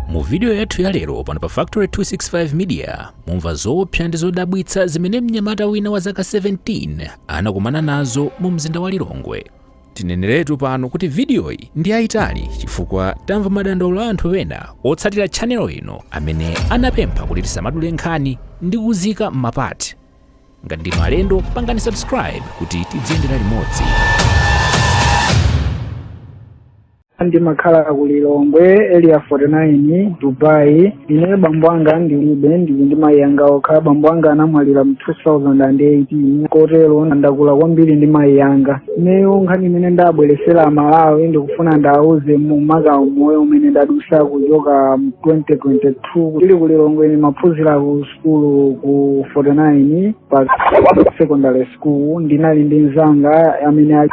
mu vidiyo yathu ya lero pano pa factory 265 media mumva zoopsa ndi zodabwitsa zimene mnyamata wina wa zaka 17 anakumana nazo mu mzinda wa lilongwe tineneretu pano kuti vidiyoyi ndi yayitali chifukwa tamva madandaulo a anthu ena otsatira tchanelo ino amene anapempha kuti tisamadule nkhani ndi kuziika m'mapati ngati ndinu alendo pangani subscribe kuti tidziyendera limodzi ndimakhala ku lilongwe area 49 dubai ine bambo anga ndilibe ndili ndi mayi anga okha bambo anga anamwalira mu 2018 kotero ndakula kwambiri ndi mayi anga ineyo nkhani imene ndabweresera amalawi ndikufuna ndiwauze makamaka umoyo umene ndadusa kuchoka mu 2022 tili ku lilongwe ndimaphunzira ku sukulu ku 49 pa secondary school ndinali ndi mzanga amene ali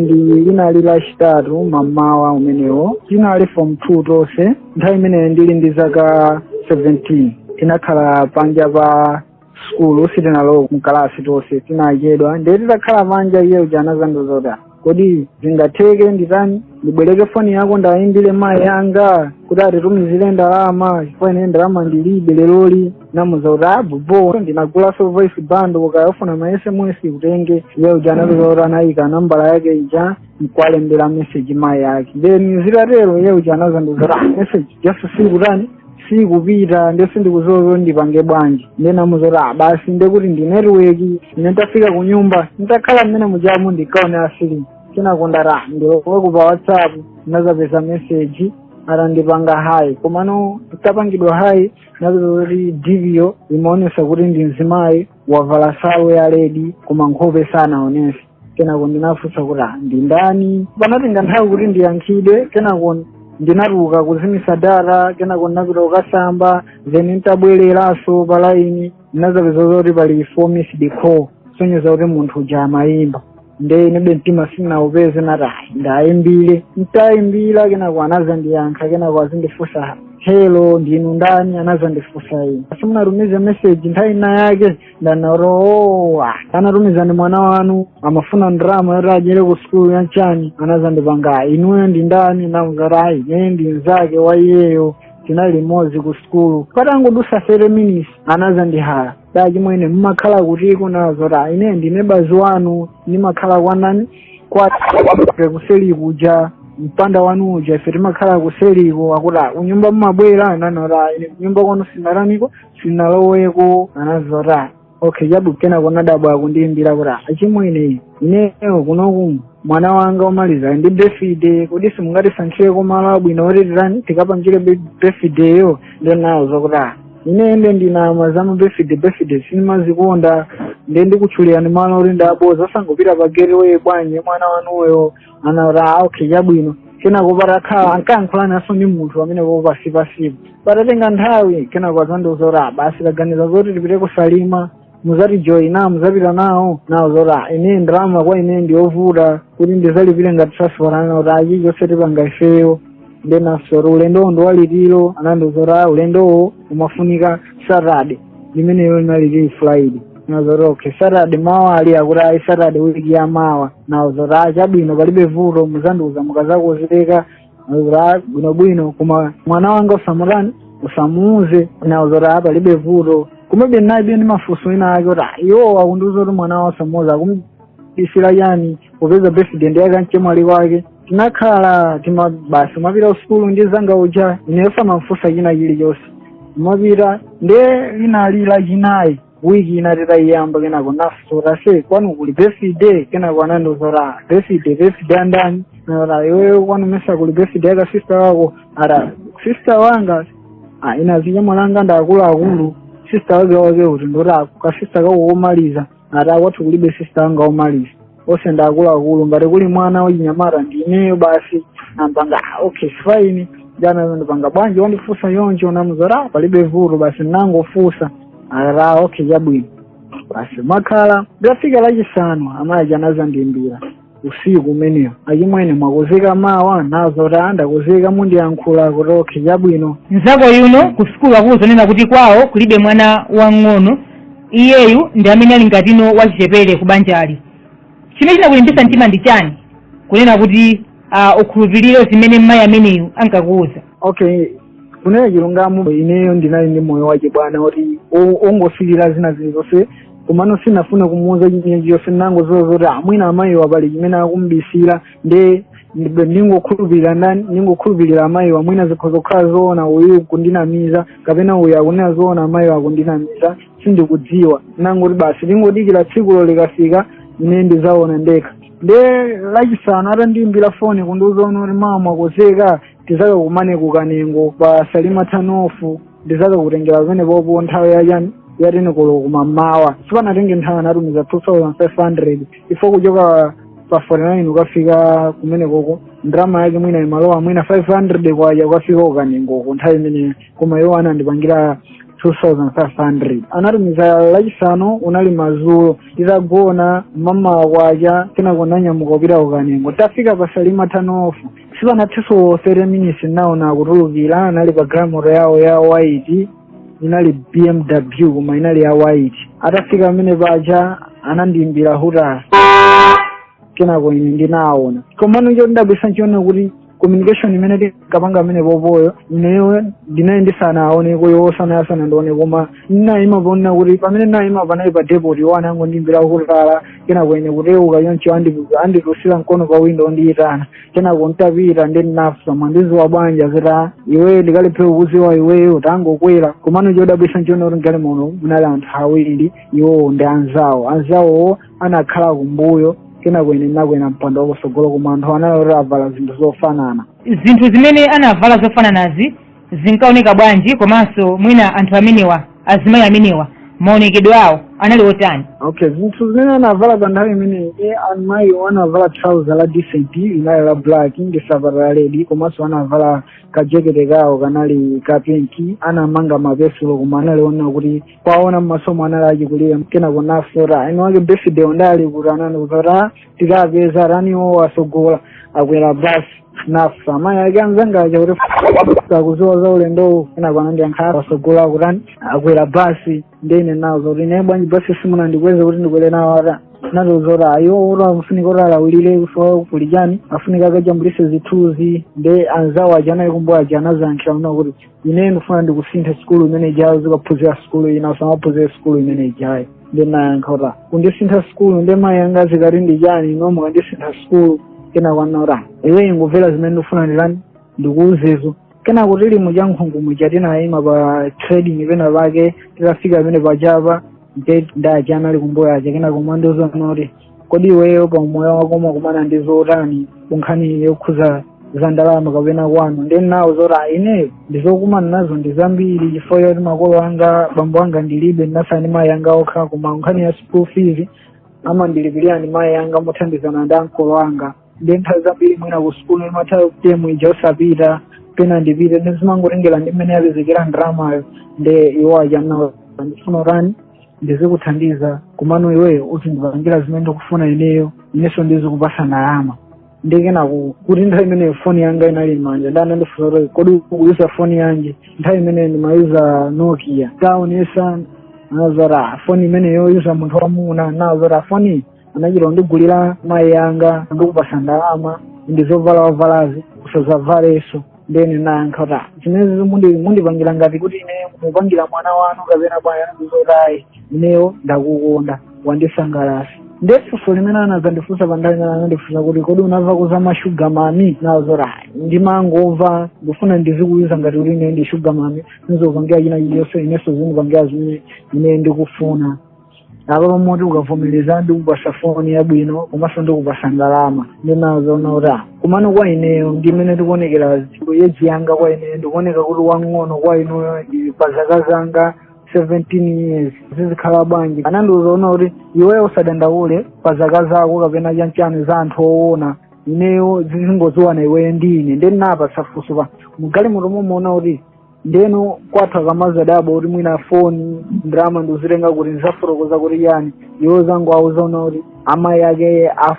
ndi inali lachitatu mamawa umenewo tinali form two tonse nthawi imeneyo ndili ndi zaka 17 tinakhala panja pa skulu sitinalowa mkalasi tonse tinachedwa ndiye titakhala panja iye uja anazandiuza zoti kodi zingatheke nditani ndibwereke foni yako ndayimbire mayi yanga kuti atitumizire ndalama chifukwa ine ndalama ndilibe leroli ndinamuuza kuti aa bobo ndinagulaso voice bundle ukafuna ma sms utenge iye uja anapeza kuti anayika nambala yake ija nkwalembera message mayi yake then zitatero iye uja anazandiuza kuti message just sikutani sikupita nde sindikuziwa kuti ndipange bwanji nde ndinamuuza kuti "Ah, basi nde kuti ndi network ine ntafika ku nyumba ntakhala mmene mujamu ndikaonera filimu sinakonda ndilowe pa whatsapp ndinazapeza meseji atandipanga hayi komano ntapangidwa hayi napeza kuti dp yo imaonesa kuti ndi mzimayi wavala zovala ya ledi koma nkhope sanaonese kenako ndinafunsa kuti "Ah, ndi ndani panatenga nthawi kuti ndiyankhidwe kenako ndinatuluka kuzimisa data kenako ndinapita kukasamba then nditabwereranso pa laini ndinazapeza zoti pali four missed call sonyeza kuti munthu uja amayimba nde inebe mtima sinaupeze nati "Ayi, ndayimbire ntayimbira kenako anazandiyankha kenako azindifunsa helo ndinu ndani anazandifunsa inu simunatumize meseji nthawi ina yake ndanena kuti o anatumiza ndi mwana wanu amafuna ndalama yoti adyere ku sukulu ya nchani anazandipanga inuyo ndi ndani namuuza ayi ine ndi mzake wa iyeyo tinali limodzi ku sukulu patangodusa 30 minutes anazandihala da chimwene mmakhala kutiko nawauza zoti ine ndi neba wanu ndimakhala kwanani kwa kuseli kuja mpanda wanu uja ife timakhala kuseliko akuti kunyumba mumabwera nanena kuti ine kunyumba kwanu sinaraniko sinaloweko anazota okay chabwino kenako nadabwa akundiimbira kuti achimwene ineyo kunoku mwana wanga omaliza ndi birthday kodi simungatisankhire kumalo abwino oti titani tikapangire birthday yo nde nawauza kuti "Ah, ine nde sindimama za mabirthday birthday sinimazikonda nde ndikutchulirani malo oti ndaboiza osangopita pa gateway bwanji mwana wanuyo anati okay chabwino kenako patakhala ankayankhulananso ndi munthu amene po pasi pasipo padatenga nthawi kenako azandiuza kuti "Ah, basi taganiza zoti tipite kusalima muzatijoyina muzapita nawo nawauza kuti "Ah, ine ndalama kwa ine ndiyovuta kuti ndizalipire ngati transport anati ah chilichonse tipanga ifeyo nde nafunsa kuti ulendowo ndi waliti anandiuza kuti "Ah, ulendowo umafunika saturday limeneyo linali lili Friday nazoti okay saturday mawa ali akuti ayi saturday wiki ya mawa nauza kuti "Ah, chabwino palibe vuto muzandiuza mukazakonzeka kuti bwinobwino koma mwana wanga usamutani usamuuze nauza kuti "Ah, palibe vuto komabe ndinalibe ndi mafunso ena ake kuti "Ah, iwowa akundiuza kuti mwana wawo usamuuza akum- isi la chani popeza birthday ndi ya kamchemwali kwake tinakhala timva basi ndimapita kusukulu ndi mzanga uja ineyo sindimamfunsa china chilichonse umapita nde linali la chinayi wiki ina titaiyamba kenako namfunsa kuti aise kwanu kuli birthday kenako anandiuza kuti birthday birthday yandani ndati iweyo kwanu mesa kuli birthday ya kasister kako akuti sister wanga ah, inazinyamwa anga ndi akuluakulu sister wake wake kuti ndoti kasista kako komaliza ati ah kwathu kulibe sista anga omaliza onse ndi akuluakulu ngati kuli mwana wachinyamata ndi ineyo basi nangopanga "Ah, okay fine uja anazandipanga bwanji wandifunsa yoncho namuuza kuti palibe vuto basi nangofunsa akuti okay chabwino basi timakhala litafika lachisanu amayi aja anazandiimbira usiku umenewo achimwene mwakonzeka mawa nauza kuti ah ndakonzeka mundiyankhule kuti okhe chabwino mzako uyu ku sukulu akuuza kunena kuti kwawo kulibe mwana wang'ono iyeyu ndi amene ali ngati wachichepere ku banjali chimene chinakulimbisa mtima ndi chani kunena kuti uh, ukhulupirire zimene mmayi ameneyu ankakuwuza okay kunena chilungamo ineyo ndinali ndi moyo wachibwana oti o- ongosilira zina zilizonse komano sinafuna kumuuza china chilichonse nangoziwa zoti ah mwina amayiwa pali chimene akumubisira nde ndi- ndingokhulupirira ndani ndingokhulupirira amayiwa mwina zikhoza kukhala zoona uyu kundinamiza kapena uyu akunena zoona amayiwa akundinamiza sindikudziwa nangoti basi tingodikira tsikulo likafika ine ndizaona ndekha nde lachisanu atandiimbira foni kundiuza kunena kuti mawa mwakonzeka tizakakumane ku Kanengo pa Salima turn off ndizakakutengera pamenepopo nthawi ya ya ten o'clock kumamawa sipanatenge nthawi anatumiza 2500 ife kuchoka pa 49 ukafika kumenekoko ndrama yake mwina imalowa mwina 500 kwacha ukafika ku Kanengoko nthawi imeneyo koma iwo anandipangira 2500 anatumiza lachisanu unali madzulo titagona mamawa kwacha kenako nanyamuka kupita ku Kanengo ntafika pa Salima turn off sipanathenso 30 minutes naona akutulukira anali pa galimoto yawo ya white inali bmw koma inali ya white atafika pamene paja anandiimbira hutala kenako ine ndinaona komano chodabwisa nchonena kuti communication imene tinkapanga pamenepopoyo ineyo ndinali ndisanawaoneko iwo anali asanandione koma ndinayima ponena kuti pamene ndinayima panali pa depot iwo anangondiimbira hutala kenako ine kucheuka choncho andipuza anditulutsira mkono pa windo akundiyitana kenako ntapita ndinawafunsa mwandidziwa bwanji akuti iweyo ndingalephere kukudziwa iweyo utangokwera komano chodabwitsa nchona kuti mgalimoto munali anthu awiri iwowo ndi anzawo anzawowo anakhala kumbuyo kenako ine nakwera mpando wakutsogolo koma anthu anali kuti avala zinthu zofanana zinthu zimene anavala zofananazi zinkaoneka bwanji komanso mwina anthu amenewa azimayi amenewa maonekedwe awo anali otani okay zinthu zimene anavala pa nthawi imeneyi amayiwo anavala trouser la decent linali la black ndi safata la redi komanso anavala kajekete kawo kanali ka pinki anamanga mapesulo koma anali onena kuti kuwaona mmasomo anali achikulira kenako nafotaina wake birthday ndali kuti anani kuti tikapeza tani iwo atsogola akwera basi nafunsa amayi ake anzanga aja kuti akudziwa za ulendowu kenako anandiyankha iwo atsogola akutani akwera basi nde ine nawauza kuti ine bwanji basi simunandiuze kuti ndikwere nawo atani anandiuza kuti ayi iwo atani afunika atani alawulire kusowa kuli chani afunika akajambulise zithunzi nde anzawo aja anali kumbuyo aja anazayankhira kunena kuti ine ndifuna ndikusinthe sukulu imene ijayo uzikaphunzira sukulu ina usamaphunzire sukulu imene ijayo ndinayankha kuti kundisintha sukulu nde mayi anga azikati ndi chani inu mukandisintha sukulu kenako anandiuza iwe ungomvera zimene ndifuna nditani ndikuuzezo kenako tili mu Chankhungu muja tinayima pa trading pena pake titafika pamene pajapa nde aja anali kumbuyo aja kenako amandiuza zoti kodi iweyo pa umoyo wako umakumana ndi zotani kunkhani yokhuza za ndalama kapena kwanu nde ndinawauza zoti "Ah, ineyo ndimakumana nazo ndi zambiri chifukwa choti makolo anga bambo anga ndilibe ndinatsala ndi mayi anga okha koma nkhani ya school fees amandilipirira ndi mayi anga mothandizana ndi ankolo anga nde nthawi zambiri mwina ku sukulu imatha term ija osapita pena ndipite zimangotengera ndi mmene yapezekera ndalamayo nde iwo aja mnawo ndifuna utani ndizikuthandiza komano iweyo uzindipangira zimene ndikufuna ineyo inenso ndizikupasa ndalama nde kenako kuti nthawi imeneyo foni yanga inali m'manja nde anandifunsa kuti kodi ukuyuza foni yanji nthawi imeneyo ndimayuza nokia ndaonesa anazati foni imene yoyuza munthu wamuna ndinawauza foni anachita kundigulira mayi anga ndikupasa ndalama ndi zovala wavalazi usazavalenso nde ndinayankha kuti "Ah, zimenezi mundipangira ngati kuti ine mupangira mwana wanu kapena bwana wanu anazati ayi ineyo ndakukonda wandisangalasa ndiye funso limene anazandifunsa pa nthawi imene anandifunsa kuti kodi unamva za mashuga mami ndinazati ayi ndimangomva ndifuna ndizikuiza ngati kuti ine ndi shuga mami nizopangira china chilichonse inenso zinipangira zimene ine ndikufuna apa pomwe uti ukavomereza ndikupasa foni yabwino komanso ndikupasa ndalama ndinawauza ona kuti ah, komano kwa ineyo ndi mmene ndikuonekera di eji yanga kwa inuyo ndikuoneka kuti wang'ono kwa inuyo ndi pa zaka zanga 17 years zizikhala bwanji anandiuza ona kuti iweyo usadandaule pa zaka zako kapena chanchani za anthu owona ineyo zizingoziwana iweyo ndi ine nde ndinawapasa funso pa mgalimoto momwemo ona kuti ndeno kwathu akamazadabwa kuti mwina foni ndalama ndikuzitenga kuti ndizafotokoza kuti chani iwe uzangowauza ona kuti amayi ake a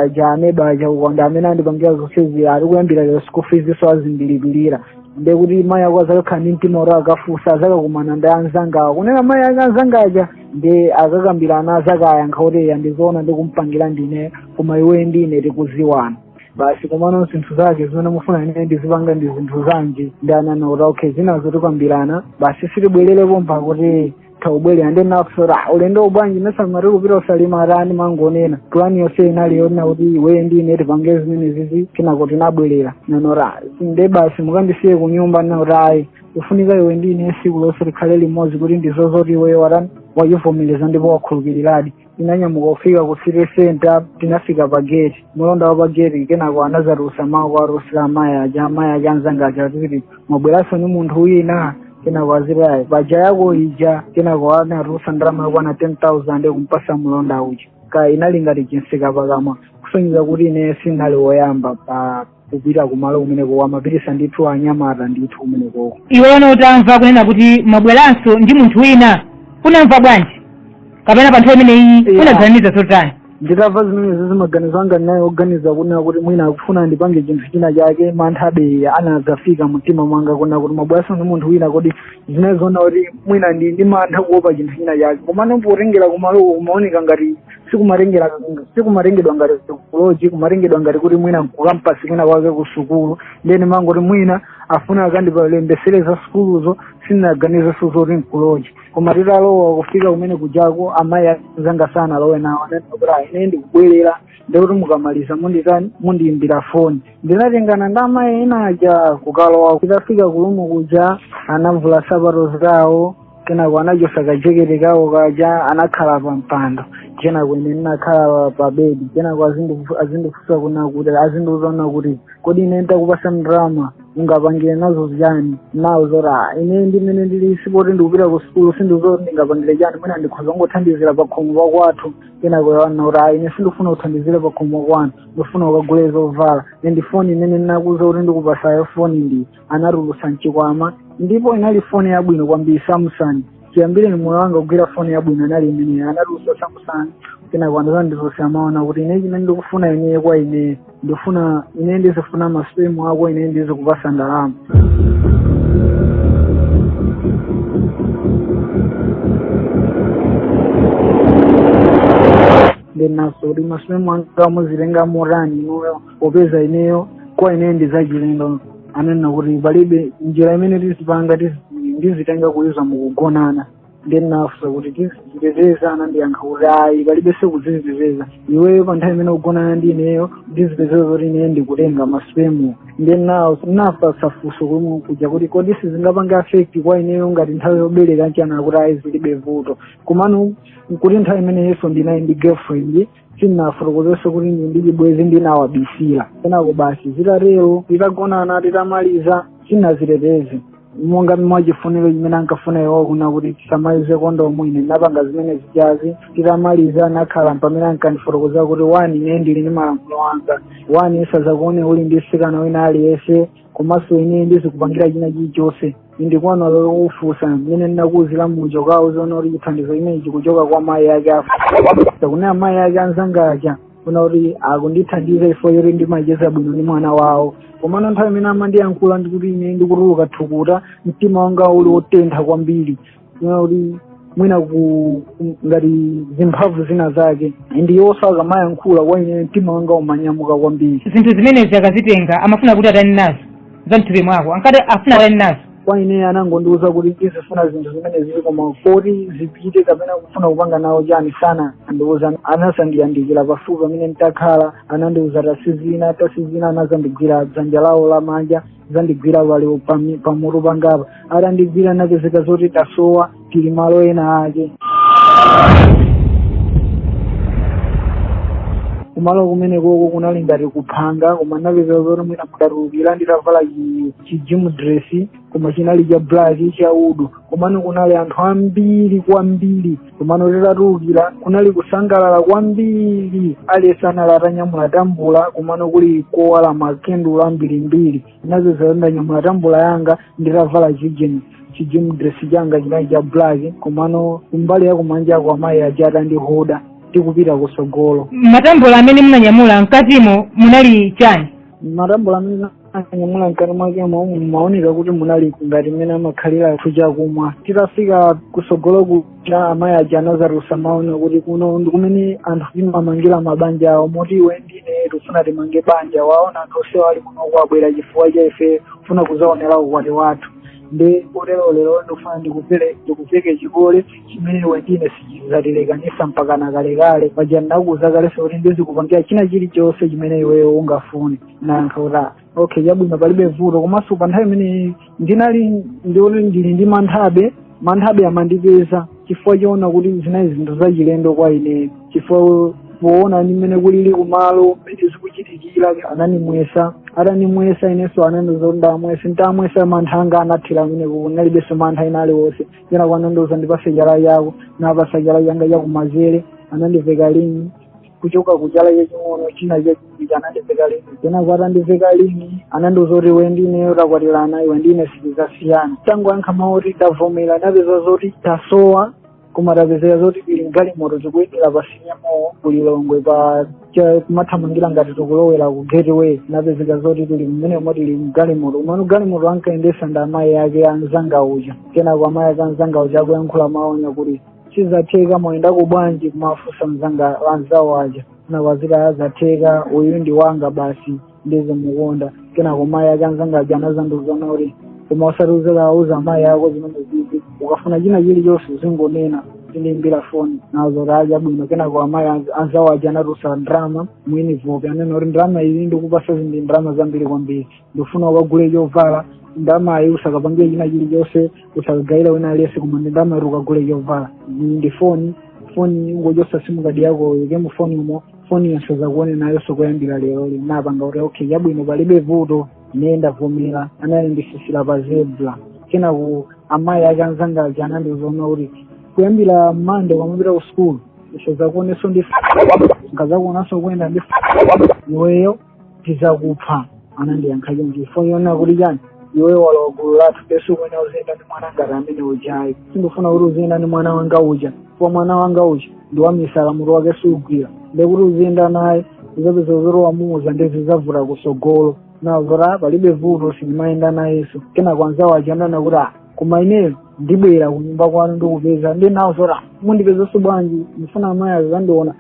Janeba aja ukuti ndi amene andipangira zonsezi ayi kuyambira lero school feesso azindilipirira nde kuti mayi ako azakakhala ndi mtima kuti akafusa azakakumana ndi anzangawo kunena amayi ake anzanga aja nde akakambirana azakayankha kuti eya ndizoona ndikumpangira ndine koma iwe ndi ine tikuziwana basi komano zinthu zake zimene mufuna ine ndizipanga ndi zinthu zanji nde ananena kuti okay zinazo tikambirana basi sitibwerere pompa akuti sitibwerera nde ndinati ulendo uwu bwanji munati tikupita ku Salima atani mangonena pulani yonse inali yonena kuti iwe ndi ine tipange zimenezizi kenako tinabwerera ndinanena nde basi mukandisiye kunyumba anati ayi kufunika iwe ndi ine siku lonse tikhale limodzi kuti ndione zoti iweyo watani wachivomereza ndipo wakhulupiriradi tinanyamuka kufika ku city center tinafika pa gate mulonda wa pa gate kenako anazatulutsa mawu kuwatulutsira amayi aja amayi ake anzanga aja akuti mwabweranso ni munthu wina kenako anazati ayi paja yako ija kenako anatulutsa ndalama yokwana 10000 kumpasa mulonda uja kaya inali ngati chitseka pakamwa kusonyeza kuti ine sinali woyamba pa kupita kumalo kumeneko amapitisa ndithu anyamata ndithu kumenekoko iweno utamva kunena kuti mwabweranso ndi munthu wina unamva bwanji kapena pa nthawi imeneyi unaganiza zotani nditamva zimenezi zi maganizo anga anali oganiza kunena kuti mwina akufuna ndipange chinthu china chake manthabe anadzafika mumtima mwanga kunena kuti mwabweranso ndi munthu wina kodi ndinaziona kuti mwina ndi ndi mantha kuopa chinthu china chake komano potengera kumaloko kumaoneka ngati sikumatengera sikumatengedwa ngati kuloji kumatengedwa ngati kuti mwina nkukampasi kwina kwake ku sukulu nde ndimangoti mwina afuna akandilembesere za sukuluzo sinaganizenso zoti nkuloji koma titalowa kufika kumeneku kujako amayi a anzanga sanalowe nawo ananena kuti "Ah, ine ndikubwerera ndiye kuti mukamaliza munditani mundiyimbira foni ndinatengana ndi amayi ena aja kukalowa titafika kurumu kuja anavula sapato zawo kenako anachosa kajekete kawo kaja anakhala pa mpando kenako ine ndinakhala pa bedi kenako azindifu- azindifunsa kunena kuti azindiuza kuti kodi iwe nditakupasa ndalama ungapangire nazo chani ndinawauza zoti "Ah, ine mmene ndili sipoti ndikupita ku sukulu sindidziwa kuti ndingapangire chani mwina ndikhoza kungothandizira pa khomo pa kwathu kenako anena kuti "Ah, ine sindikufuna kuthandizira pa khomo panu ndifuna ukagule zovala ndi foni imene ndinakuuza kuti ndikupasayo foni ndi anatulutsa mchikwama ndipo inali foni yabwino kwambiri samsung chiyambireni moyo wanga kugwira foni yabwino inali imeneyo anatulutsa samsung kenako atazanditulutsira amanena kuti ine chimene ndikufuna ineyo kwa iweyo ndifuna ine ndizifuna masipemu ako ine ndizikupasa ndalama ndinafunsa kuti masipemu anga muzitenga motani inuyo popeza ineyo kwa ineyo ndi zachilendo ananena kuti palibe njira imene tizipanga tizi- ndizitenga kudzera mukugonana ndinafunsa kuti tizidziteteza anandiyankha kuti ayi palibenso kuziteteza iweyo pa nthawi imene ukugonana ndi ineyo ndizipeza kuti ineyo ndikutenga masipemu ndinafunsa funso komwe kuja kuti kodi sizingapange afekti kwa ineyo ngati nthawi yobereka nchiyani kuti ayi zilibe vuto komano nkuti nthawi imeneyonso ndinali ndi girlfriend sindinafotokozenso kuti ndili ndi chibwenzi ndinawabisira kenako basi zitatero titagonana titamaliza sindinaziteteze monga mwachifuniro chimene ankafuna iwo kunena kuti tisamalize kondomu ine ndinapanga zimene zijazo titamaliza ndakhala mpamene ankandifotokozera kuti wani ine ndili ndi malamulo anga wani ndisazakuone uli ndi mtsikana wina aliyense komanso ine ndizikupangira china chilichonse ndikuona olo ukafunsa mmene ndinakuuzira muja ndikawaoziona kuti chithandizo chimenechi chikuchoka kwa mayi ake a anzako kunena mayi ake a anzanga aja kunena kuti akundithandiza chifukwa choti ndimacheza bwino ndi mwana wawo komano nthawi imene amandiyankhula ndi kuti ine ndikutuluka thukuta mtima wanga uli wotentha kwambiri kuona kuti mwina ku ku- ngati zimphamvu zina zake ndi iwoso akamayankhula kwa ine mtima wanga umanyamuka kwambiri zinthu zimenezi akazitenga amafuna kuti atani nazo za mthupi mwako ankati afuna atani nazo kwa ine anangondiuza kuti ndizifuna zinthu zimenezi koma koti zipite kapena kufuna kupanga nawo chani sanandiuze anazandiyandikira pafupi pamene nditakhala anandiuza tatsinzina tatsinzina anazandigwira dzanja lawo lamanja zandigwira pali pami- pamutu pangapa atandigwira napezeka zoti tasowa tili malo ena ake kumalo kumene koko kunali ngati kuphanga koma napezeka zoti mwina mudatulukira nditavala chi- chi gym dress koma chinali cha black cha hood komano kunali anthu ambiri kwambiri komano titatulukira kunali kusangalala kwambiri aliyense anali atanyamula tambula komano kuli kowala makendulo ambirimbiri inenso ndinanyamula tambula yanga nditavala chigym chigym dress changa chinali cha black komano kumbali yakumanja kwa amayi aja atandihoda tikupita kusogolo matambula amene munanyamula mkatimo munali chani matambula amene anyamula mkati mwakemo mumaoneka kuti munali ngati mmene amakhalira athu chakumwa titafika kusogolo kuja amayi aja anazatulutsa mawu onena kuti kuno ndi kumene anthu timamangira mabanja awo moti iwe ndine tikufuna timange banja waona anthu onsewa ali kunoku abwera chifukwa cha ife kufuna kuzaonera ukwati wathu ndi kotero lero ndikufuna ndikupele ndikuveke chikole chimene iwe ndine sichizatilekanisa mpakana kalekale paja ndakuuza kalenso kuti ndizikupangira china chilichonse chimene iweyo ungafune nayankha kuti okay chabwino palibe vuto komanso pa nthawi imeneyi ndinali ndi ndili ndi manthabe manthabe amandipeza chifukwa choona kuti zinali zinthu zachilendo kwa ine chifukwa poona ndi mmene kulili kumalo mmene zikuchitikira ananimwesa atanimwesa inenso anandiuza ndamwese ntamwesa mantha anga anatheratu ndinalibenso mantha ena aliwonse kenako anandiuza ndipase chala chako napasa chala changa chakumazere anandiveka lingi kuchoka kuchala chaching'ono china chachiwiri anandiveka lingi kenako atandiveka lingi anandiuza kuti iwe ndineyo takwatirana iwe ndine sitizasiyana ntangoyankha mawu oti ndavomera napezeka zoti tasowa koma tapezeka zoti tili mgalimoto tikuyendera pa city mall kulilongwe pa cha- kumathamangira ngati tikulowera ku gateway napezeka zoti tili mmene moti tili mgalimoto umo galimoto ankayendesa ndi amayi ake anzanga uja kenako amayi ake anzanga uja akuyankhula mawu onena kuti zatheka mwayendako bwanji kumafunsa mzanga anzawo aja kenako azikati zatheka uyu ndi wanga basi ndizimukonda kenako amayi ake anzanga aja anazandiuza kuti koma usati uzikauza amayi ako zimenezizi ukafuna china chilichonse uzingonena uzindiimbira foni nazati chabwino kenako amayi anz- anzawo aja anatulutsa ndrama mu envelope anena kuti ndrama izi ndikupasa izi ndi ndrama zambiri kwambiri ndikufuna ukagule chovala ndramayi usakapangire china chilichonse usakagayira wina aliyense koma ndi ndramayi ukagule chovala ndi ndi foni foni ungochosa simukadi yako uyike mu foni umo foni iyi ndisazakuone nayonso kuyambira lero ndinapanga kuti okay chabwino palibe vuto ine ndavomera anakandisisira pa zebra kenako amayi ake anzanga aja anandiuzanso kuti kuyambira mande ukamapita ku sukulu ndisazakuonenso ndikazakuonanso ukuyenda ndi iweyo tizakupha anandiyankha choncho chifukwa chonena kuti chani iwe walowa gulu lathu basi kwina uziyenda ndi mwana ngati amene uja ayi sindifuna kuti uziyenda ndi mwana wanga uja chifukwa mwana wanga uja ndi wamisala mutu wake siugwira ndekuti uziyenda naye uzapeza zoti wamuuza ndi zizavuta kusogolo chabwino palibe vuto sindimayenda nayenso kena kwa mnzawo uja ananena kuti ah koma ineyo ndibwera kunyumba kwanuko ndikupeza ndinauzoti mundipezanso bwanji ndifuna amayi azandiona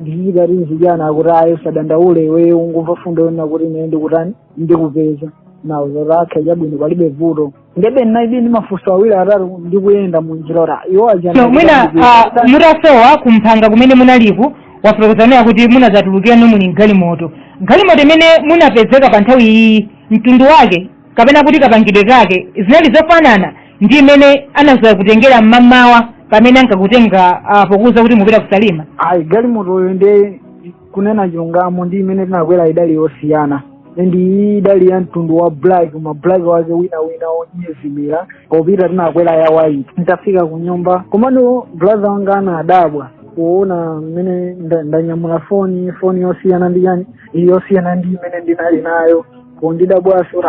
ndizikati nzijana anakuti ayi usadandaule iweyo ungomva fundo yonena kuti ine ndikutani ndikupeza ndinauzoti okhe chabwino palibe vuto ndebe ndinalibe ndi mafunso awiri atatu ndikuyenda mu njira uja iwo aja so mwina ah, mutasowa kumphanga kumene munaliku mwafotokoza nenani kuti munadzatulukirano muli mgalimoto galimoto imene munapezeka pa nthawi iyi mtundu wake kapena kuti kapangidwe kake zinali zofanana ndi imene anadzakutengerani mmamawa pamene ankakutenga uh, pokuuzani kuti mupita ku salima ayi galimotoyo ndikunena chilungamo ndi imene tinakwera idali yosiyana ndi iyi idali ya mtundu wa black ma black ake wina wina onyezimira popita tinakwera ya white nditafika ku nyumba komano brother wanga anadabwa poona mmene nda- ndanyamula foni foni yosiyana ndi iyayi yosiyana ndi imene ndinali nayo kundidabwa zoti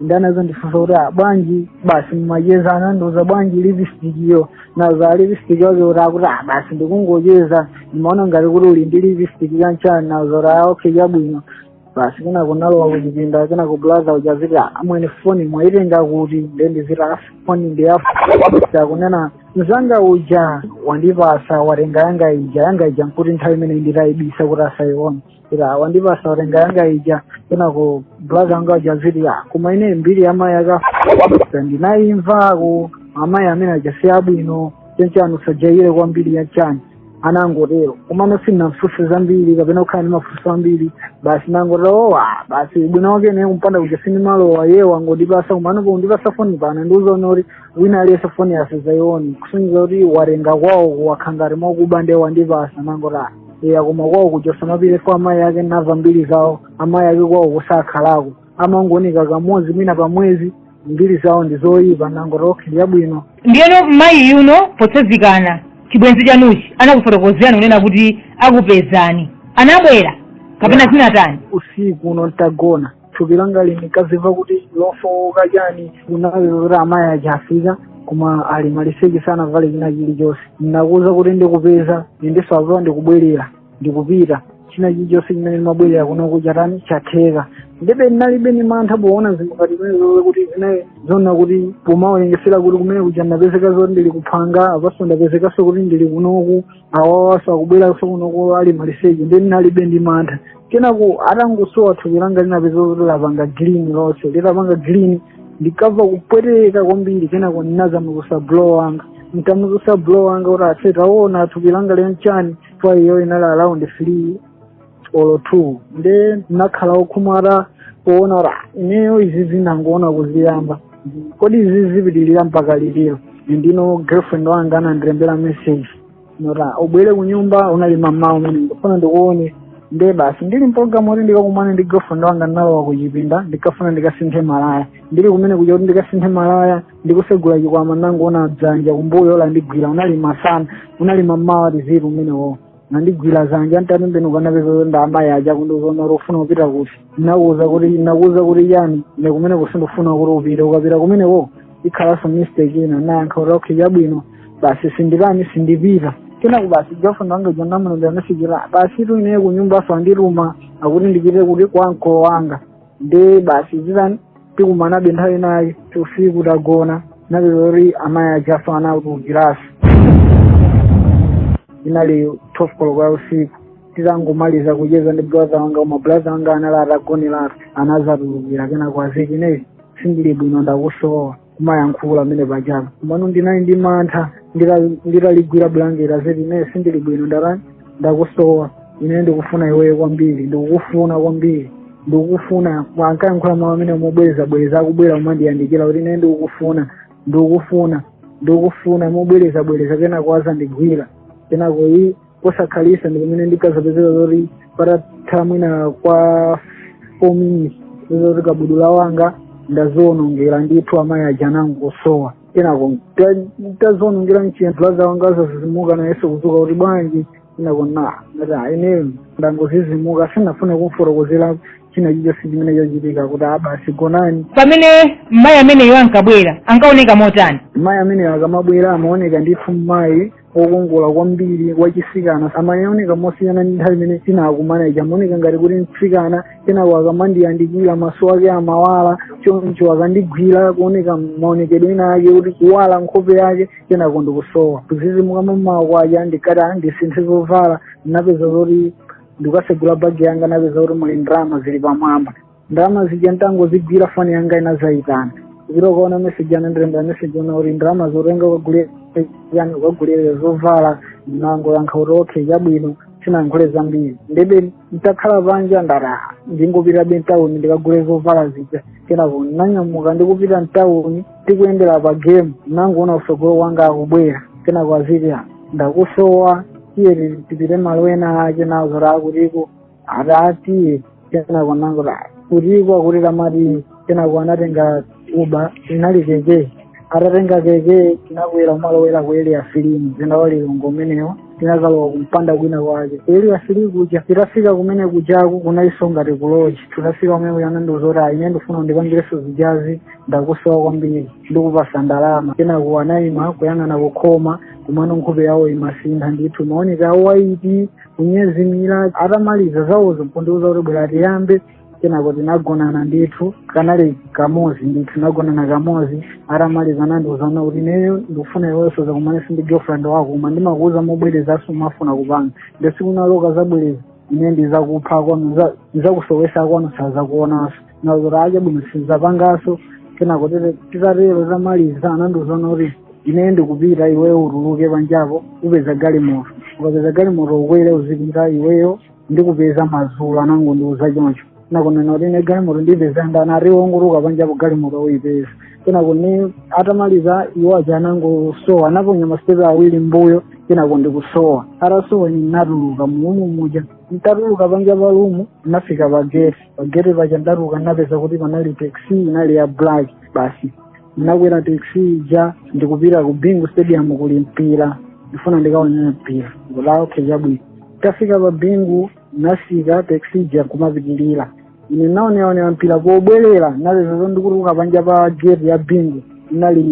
ndinazo ndifunsa kuti bwanji basi mmacheza anandiuza bwanji lipisitikiyo naza lipisitiki wake utakura basi ndikungocheza ndimaona ngati kuti uli ndi lipisitiki kanchani nazora okay chabwino basi kena kunalowa kuchipinda kena blaza uja aziti amwene foni mwaitenga kuti nde ndiziti foni ndi yauja kunena mzanga uja wandipasa watenga yanga ija yanga ija nkuti nthawi imene nditayibisa kuti asayiona ija wandipasa watenga yanga ija kenako blaza anga aja aziti iya koma ine mbiri ya mayi ake ndinayimvako amayi amene aja si abwino chanichani usajayire kwambiri ya chani anangotero komano sindinamfunse zambiri kapena kukhala ndi mafunso ambiri basi nangotero owa basi bwino wake ne kumpanda kuja sindimalowa iye wangondipasa komano kundipasa foni pano nandiuza zoti wina aliyense foni asazaione kusonyeza kuti watenga kwawo kukhala ngati mwakuba nde wandipasa nangoti aa koma kwawo kuchosa mapite chifukwa amayi ake nava mbiri zawo amayi ake kwawo sakhalako amangooneka kamodzi mwina pa mwezi mbiri zawo ndi zoyipa nangoti okhe chabwino ndiyeno mayi yuno potsazikana chibwenzi chanuchi anakufotokozerani kunena kuti akupezani anabwera kapena zinatani usiku uno mutagona thupi langa linkazimva kuti lofowoka chani kuona kuti amayi aja afika koma ali maliseche sanavale china chilichonse ndinakuwuza kuti ndikupeza ndiyenso apa ndikubwerera ndikupita china chilichonse chimene ndimabwerera kuno kuja chatani chatheka ndebe ndinalibe ndi mantha poona zinthu ngati zimenezo kuti zinali zoona kuti pomawerengetsera kuti kumene kuja ndapezeka zoti ndili kuphanga apanso ndapezekanso kuti ndili kunoku awawa akubweraso kunoko ali maliseche nde ndinalibe ndi mantha kenako atangosowa thupi langa ndinapeza kuti lapanga green lonse litapanga green ndikumva kupweteka kwambiri kenako ndinazamuzusa bro wanga ntamuzusa bro wanga kuti ase taona thupi langa lili nchani foo iyo inali around three olo two nde ndinakhala okhumata poona kuti "Ah, ineyo izi ndangoona kuziyamba kodi izi zipitirira mpaka liti nde girlfriend wanga anandilembera message yoti ubwere kunyumba unali mmamawa umene ndikufuna ndikuone nde basi ndili mpologalamu kuti ndikakumane ndi girlfriend wanga ndinalowa kuchipinda ndinkafuna ndikasinthe malaya ndili kumene kuja kuti ndikasinthe malaya ndikusegula chikwama ndangoona dzanja kumbuyo lindigwira unali masana unali mmawa tsiku limenelo nandigwira zanja ntatembenuka napeza kuti ndi amayi aja kundiuza kuti ufuna kupita kuti nakuuza kuti nakuuza kuti chani ine kumeneko sindifuna kuti upite ukapita kumeneko ikhalanso mistake ina nayankha kuti okay chabwino basi sindikana sindipita kenako basi girlfriend wanga jonamulonda nasikira basi tu ine kunyumba aziondiluma akuti ndipite kuti kwa mkolo wanga nde basi zatha tikumanabe nthawi ina usiku tagona napeza zoti amayi ajaso anatulukiraso inali 12 koloko ya usiku titangomaliza kucheza ndi brother wanga koma brother wanga anali atagoneratu anazatulukira kenako aziti ineyo sindili bwino ndakusowa kumayankhula amene pajapo komano ndinali ndi mantha nditaligwira bulangete aziti ine sindili bwino ndatani ndakusowa ine ndikufuna iweyo kwambiri ndikukufuna kwambiri ndikukufuna ankayankhula mawu amene mobwereza bwereza akubwera kumandiyandikira kuti ine ndikukufuna ndikukufuna ndikukufuna mobwereza bwereza kenako azandigwira kenako iyi kosakhalitsa ndi pamene ndinkazapezeka zoti patatha mwina kwa four minutes zoti kabudula wanga ndazionongera ndithu amayi aja anangosowa kenako ntazionongera m'chikabudula bro wanga azazizimuka naye so kuzuka kuti bwanji kenako nangoti ineyo ndangozizimuka sinafuna kumfotokozera china chilichonse chimene chachitika kuti abasi gonani pamene mayi ameneyo ankabwera ankaoneka motani mayi ameneyo akamabwera amaoneka ndithu mayi wokongola kwambiri wachisikana amandionekera mosiyana ndi nthawi imene tinakumana ija amaoneka ngati kuti mtsikana kenako akamandiyandikira maso ake amawala choncho akandigwira kuoneka maonekedwe ena ake kuti kuwala nkhope yake kenako ndikusowa kuzizimuka mamawa kwacha ndikati "Ah, ndisinthe zovala ndinapeza zoti ndikusegula bagi yanga napeza kuti muli ndalama zili pamwamba ndalama zija nditangozigwira foni yanga inazayitana ziro ukaona meseji anandirembera meseji yonena kuti ndalamazo tenga ukagulire chani ukagulire zovala ndinangoyankha kuti okay chabwino sinayankhule zambiri ndebe nditakhala panja ndaraha ndingopitabe mtawuni ndikagule zovala zija kenako ndinanyamuka ndikupita mtawuni tikuyendera pa game ndinangoona kusogolo kwanga akubwera kenako aziti ndakusowa iye tipite malo ena ake nazo raakutiko adati kenako anangola kutikwa kuti tamati kenako anatenga uber inali keke atatenga keke tinakwera kumalowera ku area three mumzinda wa lilongwe umenewo tinakalowa kumpanda kwina kwake ku area three kuja titafika kumene kujako kunaliso ngati kuloji tinafika kumene kuja anandiuza kuti ayi ine ndifuna ndipangireso zijazi ndakusowa kwambiri ndikupasa ndalama kenako anayima kuyang'ana kukhoma komano nkhope yawo imasintha ndithu maoneka awo ayiti kunyezimira atamaliza zawozo nkundiuza kuti bwera tiyambe kenako tinagonana ndithu kanali kamozi ndithu tinagonana kamozi atamaliza nandiuzana kuti ineyo ndikufuna iwe usazakumaneso ndi girlfriend wako koma ndimakuuza mobwereza sumafuna kupanga nde siku lina ukazabwereza ine ndizakupha akwanu ndizakusowesa akwanu sazakuonanso mazoro okay chabwino sizapangaso kenako titatero tamaliza anandiuza kuti ine ndikupita iweyo utuluke panjapo upeza galimoto ukapeza galimoto ukwere uzipita iweyo ndikupeza mazulo anangondiuza choncho nakunena kuti ine galimoto ndipeza ndani ati ungotuluka panjapo galimoto uyipeza kenakono atamaliza iwo aja anangosowa anaponya masitepe awiri mbuyo kenako ndi kusowa atasowa ninatuluka mulumu muja ntatuluka panja palumu nafika pageti pageti paja ndatuka ndapeza kuti panali taxi inali ya black basi ndinakwera taxi ija ndikupita ku bingu stadium kuli mpira ndifuna ndikaonera mpira ndi kuti okay chabwino tafika pa bingu ndinasika taxi ija nkumapitirira ine naoneaonera mpira pobwerera ndapeza zo ndikutuka panja pa geti ya bingu inali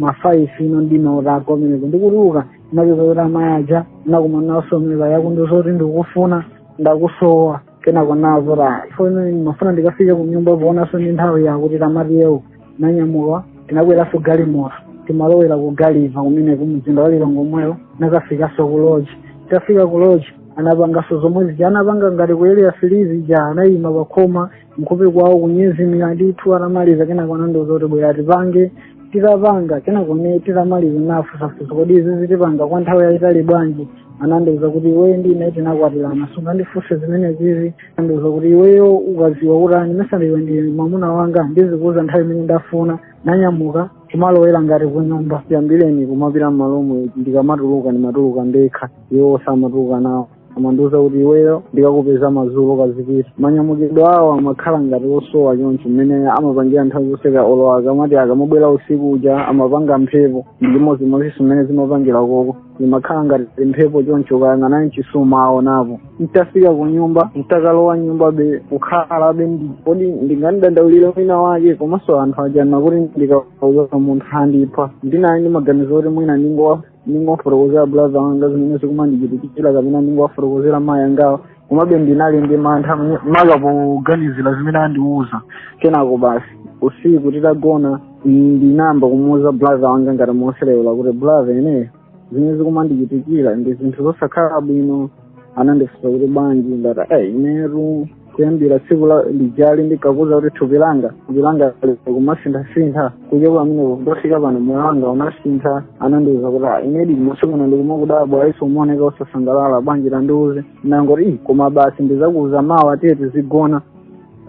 mafaifi ino ndinaota kumeneko ndikutuka ndapeza kuti amayi aja nakumana osomera akundiuza zoti ndikufuna ndakusowa kenako nazora foni mafuna ndikafika kunyumba poonanso ndi nthawi yakuti tamatiyewo nanyamuka tinakweranso galimoto timalowera ku gulliver kumeneko mumzinda wa lilongwe omwewo nakafikanso ku loji tafika ku loji anapanganso zomwe zija anapanga ngati ku area three zija anayima pakhoma nkhope kwawo kunyezimira ndithu atamaliza kenako anandiuza kuti bwera tipange titapanga kenakono titamaliza nafusafusa kodi izizi tipanga kwa nthawi yayitali bwanji anandiuza kuti iweyo ndi ine tinakwatirana sungandifunse zimene zizi andiuza kuti iweyo ukaziwa kuti ani mesaliwe ndi mwamuna wanga ndizikuuza nthawi imene ndafuna nanyamuka kumalowera ngati kunyumba chiyambireni kumapita m'malo omwe ndikamatuluka ndimatuluka ndekha iwo samatuluka nawo amandiuza kuti iweyo ndikakupeza madzulo kazipita manyamukidwe awo amakhala ngati osowa choncho mmene amapangira nthawi zonse ka olo akamati akamabwera usiku uja amapanga mphepo ndi chimodzimodzi mmene zimapangira koko imakhala ngati mphepo choncho ukayang'ana sumawaonapo nditafika ku nyumba nditakalowa mnyumba be kukhalabe kodi ndingodandaulira mwina wake komanso anthu aja anati ndikauza munthu andipha ndinali ndi maganizo oti mwina ndingowa ndingowafotokozera abulaza wanga zimene zikumandichitikira kapena ndingowafotokozera mayi angawo komabe ndinali ndi mantha maka poganizira zimene andiwuza kenako basi usiku titagona ndinayamba kumuwuza bulaza wanga ngati moseleula kuti bulaza ineyo zimene zikumandichitikira ndi zinthu zosakhala bwino anandifunsa kuti bwanji ndati "Eh, inetu kuyambira tsiku lijali ndinkakuuza kuti thupi langa thupi langa kumasinthasintha kuchoka pamenepo kufika pano moyo wanga unasintha anandiuza kuti "Ah, inedi masiku ano ndikumakudabwa eyiso umaoneka usasangalala bwanji tandiuze nangoti "Ih, koma basi ndidzakuuza mawa tiye tizigona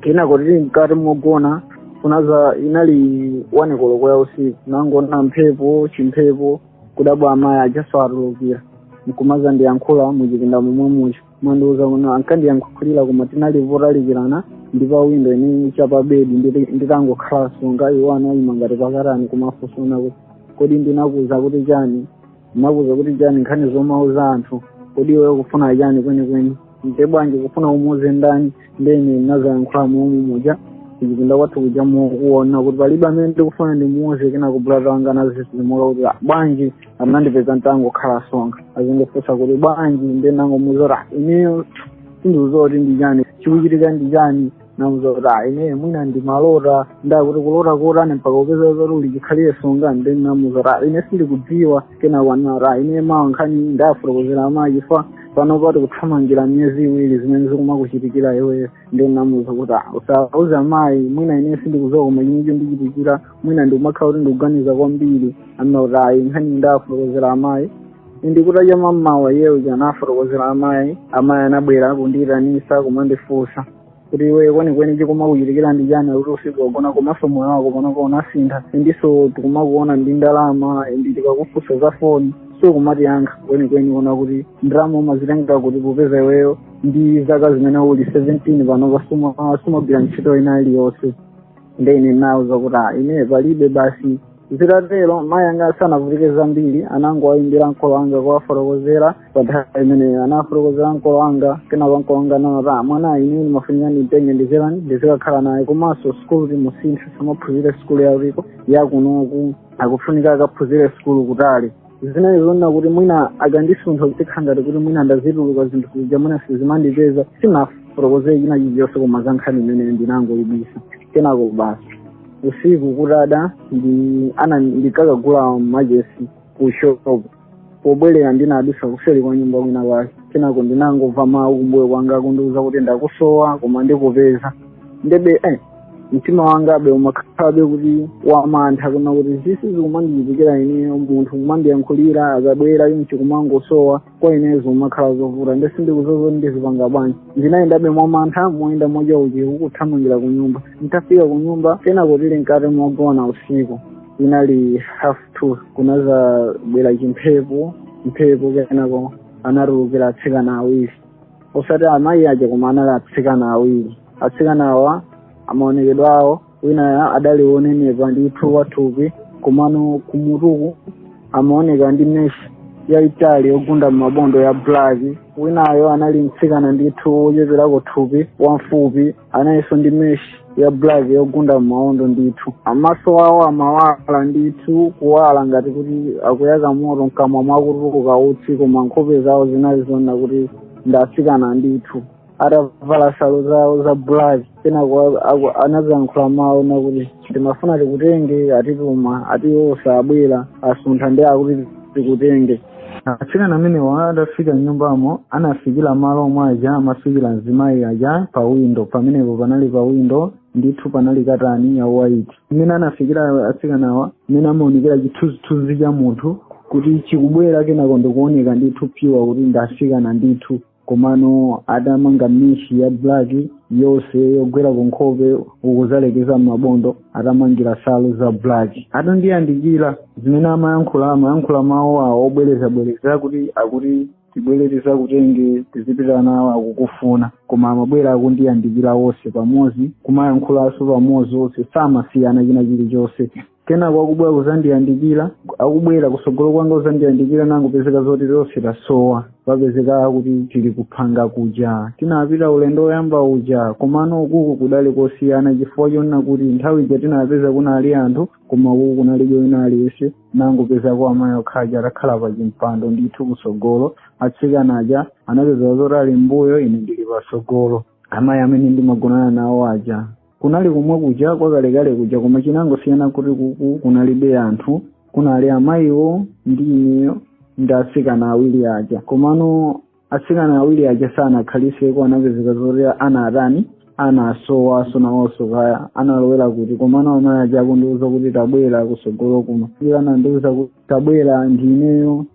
kenako tili mkati mogona kunadza inali one koloko ya usiku nangoona mphepo chimphepo kudabwa amayi ajaso atulukira nkumazandiyankhula muchipinda momwe muchipinda mwathu muno ankandiyankhulira koma tinali potalikirana ndi pa windo ine chapa bedi nditi- nditangokhala tsonga iwo anayima ngati pakatani kumandifunsano kuti kodi ndinakuuza kuti chani ndinakuuza kuti chani nkhani zomauza anthu kodi iwe ukufuna chani kwenikweni nde bwanji ukufuna umuuze ndani ndene nazayankhula mumu muja kuchipinda kwathu kuja nkuwauza kuti palibe amene ndikufuna ndimuuze kenako brother wanga anadzidzimuka kuti "Ah, bwanji anandipeza ntangokhala tsonga azindifunsa kuti bwanji nde nangomuuza kuti "Ah, ineyo sindidziwa kuti ndi chani chikuchitika ndi chani namuuza kuti ayi ine mwina ndi malota nde akuti kulota kotani mpaka kupezeka zoti uli chikhalire tsonga ndinamuuza kuti ayi ine sindikudziwa kenako anena kuti ayi ine mawa nkhani ndiwafotokozera amayi fa pano patikuthamangira miyezi iwiri zimene zikumakuchitikira iweyo ndinamuuza kuti "Ah, usauze amayi mwina ine sindikudziwa koma chimene chikundichitikira mwina ndikumakhala kuti ndikuganiza kwambiri anena kuti ayi nkhani ndiwafotokozera amayi ndi kutacha mamawa iyeyo anawafotokozera amayi amayi anabwera kundiyitanisa kumandifunsa kuti iweyo kwenikweni chikumakuchitikira ndi chani akuti ukufika kugona komanso moyo wako panopa unasintha endiso tikumakuona ndi ndalama endi tikakufunsa za foni sukumatiyankha kwenikweni ona kuti ndalama umazitenga kuti popeza iweyo ndi zaka zimene uli 17 panopa suma- sumagwira ntchito ina iliyonse nde ine nawauza kuti ah, ine palibe basi zitatero mayi anga sanavutike zambiri anangowayimbira ankolo anga kuwafotokozera pa nthawi imeneyo anawafotokozera ankolo anga kenako ankolo anga anati mwanayu ine ndimafunika ndimutenge ndizilera ndizikakhala naye komanso sikulu timusinthe asamaphunzire sikulu yakuno yakunoku akufunika akaphunzire sikulu kutali zinali zonena kuti mwina akandisuntha kutikhala ngati kuti mwina ndazitulukira zinthu zija mwina sizimandipeza sinafotokozere china chilichonse koma za nkhani imeneyi ndinangoyibisa kenako basi usiku kutada ndinakagula machesi ku shop pobwerera ndinadusa kuseri kwa nyumba kwina kwake kenako ndinangomva mawu kumbuyo kwanga akundiuza kuti ndakusowa koma ndikupeza ndiye eh, mtima wangabe umakhalabe kuti wamantha kunena kuti izizi zikumandichitikira ineyo munthu kumandiyankhulira akabwera chonchi kumangosowa kwa ine zimakhala zovuta nde sindikudziwa ndizipanga bwanji ndinayendabe mwamantha moyenda moja uku ndikuthamangira ku nyumba nditafika ku nyumba kenako tili mkati mogona usiku inali half two kunazabwera chimphepo mphepo kenako anatulukira atsikana awiri osati amayi aja koma anali atsikana awiri atsikana awa amaonekedwa awo winayo adali wonenepa ndithu wathupi komano kumutuku amaoneka ndi meshi yaitali yogunda m'mabondo ya black winayo anali mtsikana ndithu wocheperako thupi wamfupi nayenso ndi meshi ya black yogunda m'maondo ndithu amaso awo amawala ndithu kuwala ngati kuti akuyaka moto mkamwa mukutuluka utsi koma nkhope zawo zinali zonena kuti ndi asikana ndithu atavala nsalu zawo za black kenako anazayankhula mawu onena kuti timafuna tikutenge atituma ati osabwera asuntha nde akuti tikutenge atsikana amenewa atafika mnyumbamo anafikira malo omwe aja amafikira mzimayi aja pa windo pamenepo panali pa windo ndithu panali katani ya white mmene anafikira atsikanawa mmene amaonekera chithunzithunzi cha munthu kuti chikubwera kenako nde kuoneka ndithu phi kuti ndi asikana ndithu komano atamanga meshi ya black yonse yogwera ku nkhope kuzalekeza m'mabondo atamangira nsalu za black atandiyandikira zimene amayankhula amayankhula mawu awo obwerezabwereza kuti akuti tibwere tizakutenge tizipita nawo akukufuna koma amabwera akundiyandikira wonse pamodzi kumayankhulanso pamodzi wonse samasiyana china chilichonse kenako akubwera kuzandiyandikira akubwera kusogolo kwanga kuzandiyandikira nangopezeka zoti tonse tasowa tapezeka kuti tili kuphanga kuja tinapita ulendo woyamba uja komano ukuku kudali kosiyana chifukwa chonena kuti nthawi ija tinapeza kunali anthu koma ukuku kunalibe wina aliyense nangopezako amayi okha aja atakhala pa chimpando ndithu kusogolo atsikana aja anapezeka zoti ali mbuyo ine ndili pasogolo amayi amene ndimagonana nawo aja kunali komwe kuja kwakalekale kuja koma chinangosiyana kuti kuku kunalibe anthu kunali amayiwo ndi ineyo ndi atsikana awiri aja komano atsikana awiri aja sanakhaliseko anapezeka zoti ana atani ana asowaso nawonso kaya analowera kuti komano amayi aja akundiuza kuti tabwera kusogolo kuno iwo anandiuza kuti tabwera ndi ineyo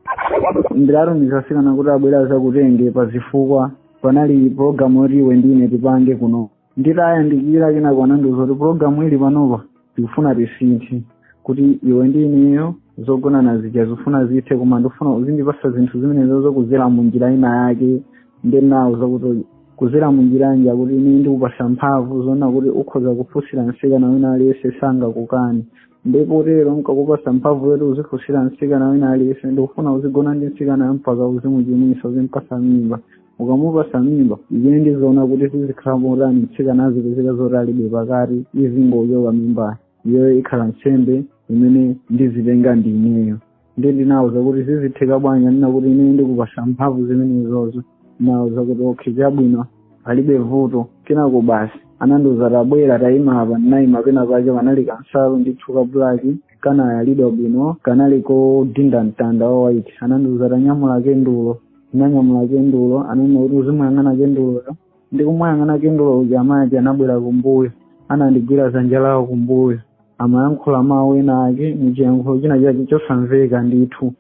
ndinatumiza atsikana kuti abwere azakutenge pa zifukwa panali pulogalamu yoti iwe ndine tipange kuno nditayandikira kenako anandiuza kuti pulogalamu ili panopa tikufuna tisinthe kuti iwe ndi ineyo zogonana zija zikufuna zithe koma ndifuna uzindipasa zinthu zimenezo kuzera mu njira ina yake nde nawuza kuti kuzera mu njira yanji akuti ine ndikupasa mphamvu zonena kuti ukhoza kufunsira msikana wina aliyense sangakukani ndipo tero nkakupasa mphamvu yoti uzifunsira msikana wina aliyense ndikufuna uzigona ndi msikana mpaka uzimuchimwitsa uzimpasa mimba ukamupasa mimba ine ndiziona kuti zizikhala motani mtsikana azipezeka zoti alibe pakati izingochoka mimbayo iyeyo ikhala nsembe imene ndizitenga ndi ineyo nde ndinawuza kuti zizitheka bwanji ananena kuti ine ndikupasa mphamvu zimenezozo ndinawuza kuti okay chabwino palibe vuto kenako basi anandiuza tabwera tayima apa ndinayima pena pake panali kansalu ndithu ka bulaki kanayalidwa bwino kanali kodinda mtanda wa white anandiuza tanyamula kendulo ndinanyamula kendulo ananena kuti uzimuyang'ana kenduloyo ndikumuyang'ana kendulo uja amayi anabwera kumbuyo anandigwira dzanja lawo kumbuyo amayankhula mawu ena ake muchiyankhulo china chake chosamveka ndithu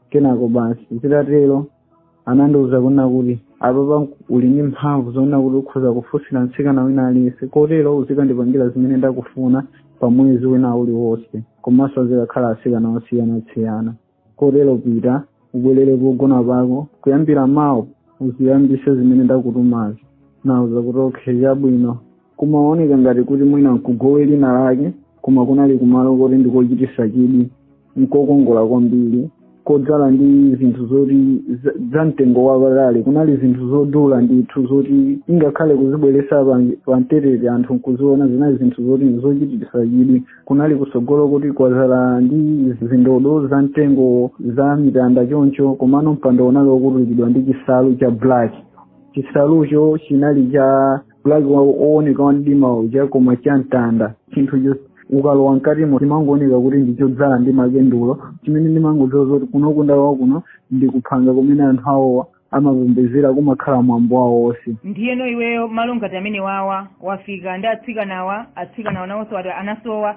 kenako basi zitatero anandiuza kunena kuti apapa uli ndi mphamvu zonena kuti ukhoza kufunsira mtsikana wina aliyense kotero uzikandipangira zimene ndakufuna pa mwezi wina uliwonse komanso azikakhala atsikana osiyanasiyana kotero pita ubwerere pogona pako kuyambira mawa uziyambise zimene ndakutumazo nauza kuti okay chabwino kumaoneka ngati kuti mwina nkugome lina lake koma kunali kumalo koti ndikochitisa chidwi nkokongola kwambiri kodzala ndi zinthu zoti za- za mtengo wapatali kunali zinthu zodula ndithu zoti ingakhale kuzibweresa pa- pa mbetete anthu nkuziona zinali zinthu zoti zochitisa chidwi kunali kusogolo kuti kwazala ndi zindodo za mitengo za mitanda choncho komano mpando unali wokutulidwa ndi chisalu cha black chisalucho chinali cha bulaki wowoneka wa mdima uja koma cha mtanda chinthu chos- ukalowa mkatimo chimangooneka kuti ndichodzala ndi makendulo chimene ndimangodziwa zoti kuno kunkada kuno ndi kuphanga kumene anthu awowa amapembezera kumakhala mwambo wawo wonse ndiyeno iweyo malo ngati amenewawa wafika ndi atsikanawa atsikanawa nawonso ati anasowa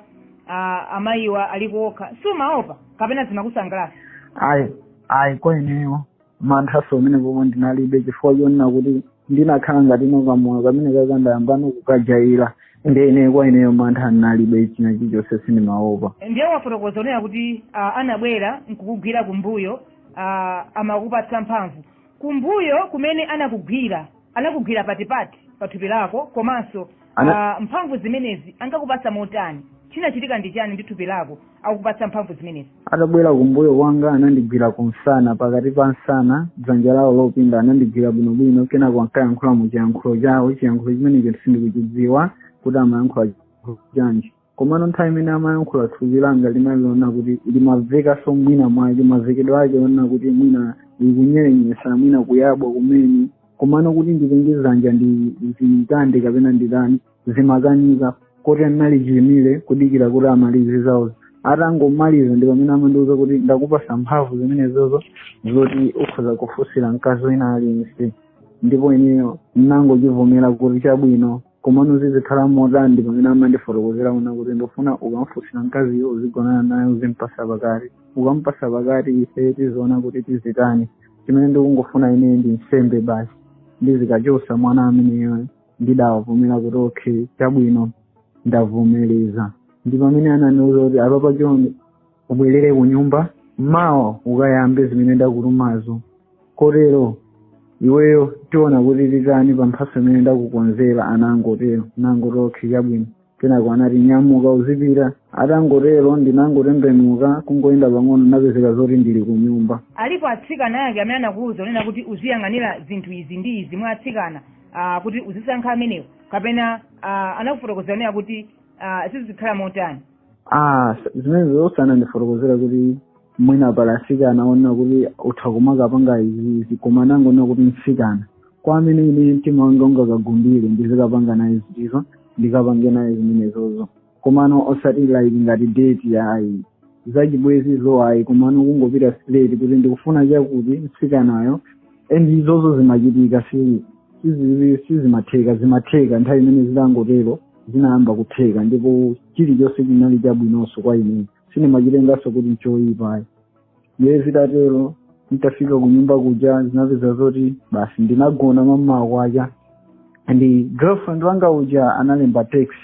ah, amayiwa ali kuokha- sumaopa kapena zimakusangalatsa ayi ayi kwa ineyo manthanso omwe pomwe ndinalibe chifukwa chonena kuti ndinakhala ngati ino kamoyo kamene kakandayambano kukajaira nde ineyo kwa ineyo mantha ndinalibe china chilichonse sindimaopa ndiye wafotokoza kunena kuti ah, anabwera nkukugwira kumbuyo ah, amakupatsa mphamvu kumbuyo kumene anakugwira anakugwira patipati pa thupi lako komanso Ana- ah, mphamvu zimenezi ankakupatsa motani chinachitika ndi chani ndi thupi lako akupatsa mphamvu zimenezi atabwera kumbuyo kwanga anandigwira kumsana pakati pa msana dzanja lawo lopinda anandigwira bwinobwino kenako ankayankhula mu chiyankhulo chawo chiyankhulo chimenecho sindikuchidziwa kuti amayankhula chiyankhulo chanji komano nthawi imene amayankhula thupi langa linali lonena kuti limamvekaso mwina mwake mamvekedwe ake onena kuti mwina likunyerenyetsa mwina kuyabwa kumene komano kuti nditenge zanja ndizikande kapena nditani zimakanika koti ndinali chiimire kudikira kuti amalize zawo atangomaliza ndi pamene amandiuza kuti ndakupasa mphamvu zimenezozo zoti ukhoza kufunsira mkazi wina aliyense ndipo ineyo ndinangochivomera kuti chabwino komano zizikhala motani ndi pamene amandifotokozera kunena kuti ndofuna ukamufunsira mkaziyo uzigonana naye uzimpasa pakati ukampasa pakati ife tiziona kuti tizitani chimene ndikungofuna ineyo ndi nsembe basi ndizikachosa mwana ameneyo ndidawavomera kuti okay chabwino ndavomereza ndi pamene anandiuza kuti apapa chonde ubwerere ku nyumba mawa ukayambe zimene ndakutumazo kotero iweyo tiona kuti titani pa mphatso imene ndakukonzera anangotero nangoti okay chabwino kenako anati nyamuka uzipita atangotero ndinangotembenuka kungoyenda pang'ono napezeka zoti ndili ku nyumba alipo atsikana ake amene anakuwuza kunena kuti uziyang'anira zinthu izi ndi izi mwa atsikana ah, kuti uzisankha amenewo kapena ah, anakufotokozera kunena kuti ah, zizikhala motani Ah, zimenezo sanandifotokozere kuti mwina pali asikana onena kuti utha kumakapanga izizi koma anangonena kuti msikana kwa amene ine mtima wanga ungakakhumbire ndizikapanga naye izizo ndikapange naye zimenezozo komano osati like ngati date ya ayi zachibwenzizo ayi komano kungopita straight kuti ndikufuna chakuti msikanayo and izozo zimachitika si sizi- sizimatheka zimatheka nthawi imene zidangotero zinayamba kutheka ndipo chilichonse chinali chabwinonso kwa ine sindimachitengaso kuti nchoyipa ayi ndiye zitatero nditafika ku nyumba kuja ndinapeza zoti basi ndinagona mamawa kwacha and girlfriend wanga uja analemba text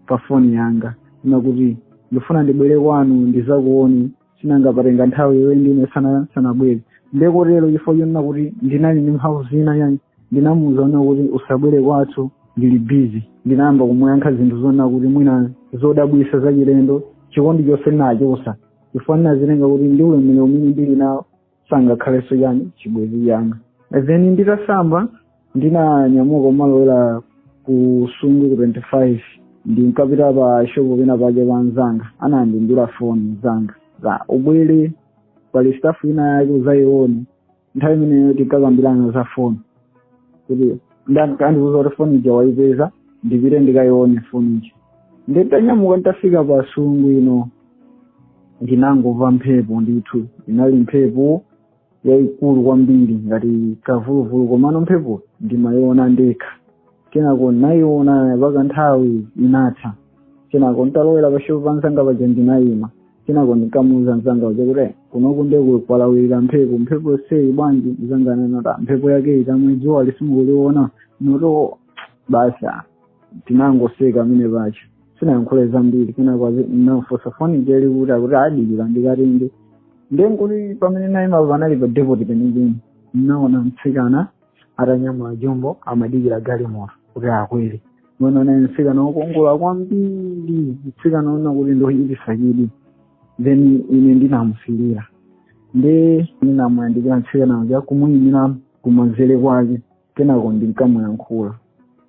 pa foni yanga kunena kuti ndikufuna ndibwere kwanu ndizakuone chifukwa patenga nthawi iye ndi ine sana sanabwere nde kotero chifukwa chonena kuti ndinali ndi mphamvu zina chani ndinamuwuza kunena kuti usabwere kwathu ndili bizi ndinayamba kumuyankha zinthu zonena kuti mwina zodabwisa zachilendo chikondi chonse ndinachosa chifukwa ndinazitenga kuti ndi ulemerero umene ndili nawo sangakhalenso yani chibwenzi changa then nditasamba ndinanyamuka kumalowera ku sungu ku 25 ndinkapita pa shopu pena paja pa mzanga anandimbira foni mzanga uja ubwere pali stuff ina yake uzayione nthawi imeneyo tinkakambirana za foni kuti nde amandiuza kuti foni ija waipeza ndipite ndikayione foni ija nde nditanyamuka nditafika pa sungu ino ndinangomva mphepo ndithu inali mphepo yayikulu kwambiri ngati kavuluvulu komano mphepo ndimayiona ndekha kenako nayiona paka nthawi inatha kenako nditalowera pashopu pa mzanga paja ndinayima kenako ndinkamuuza mzanga uja kuti kunoku ndiye kwalawirira mphepo mphepo zayi bwanji mzanga anati mphepo yake iti amwene dzuwali simukuliona nati basi tinangoseka amwene paja sinayankhule zambiri kenako nafunsa foni ija ili kuti akuti dikira ndikatenge ndenkuti pamene naimapo panali pa depoti penipeni naona mtsikana atanyamula jumbo amadikira galimoto kuti akwere amwene anali mtsikana wokongola kwambiri mtsikana woona kuti ndi wochititsa chidwi then ine ndinamusilira nde ndinamuyandikira mtsikana uja kumuyimira kumanzere kwake kenako ndinkamuyankhula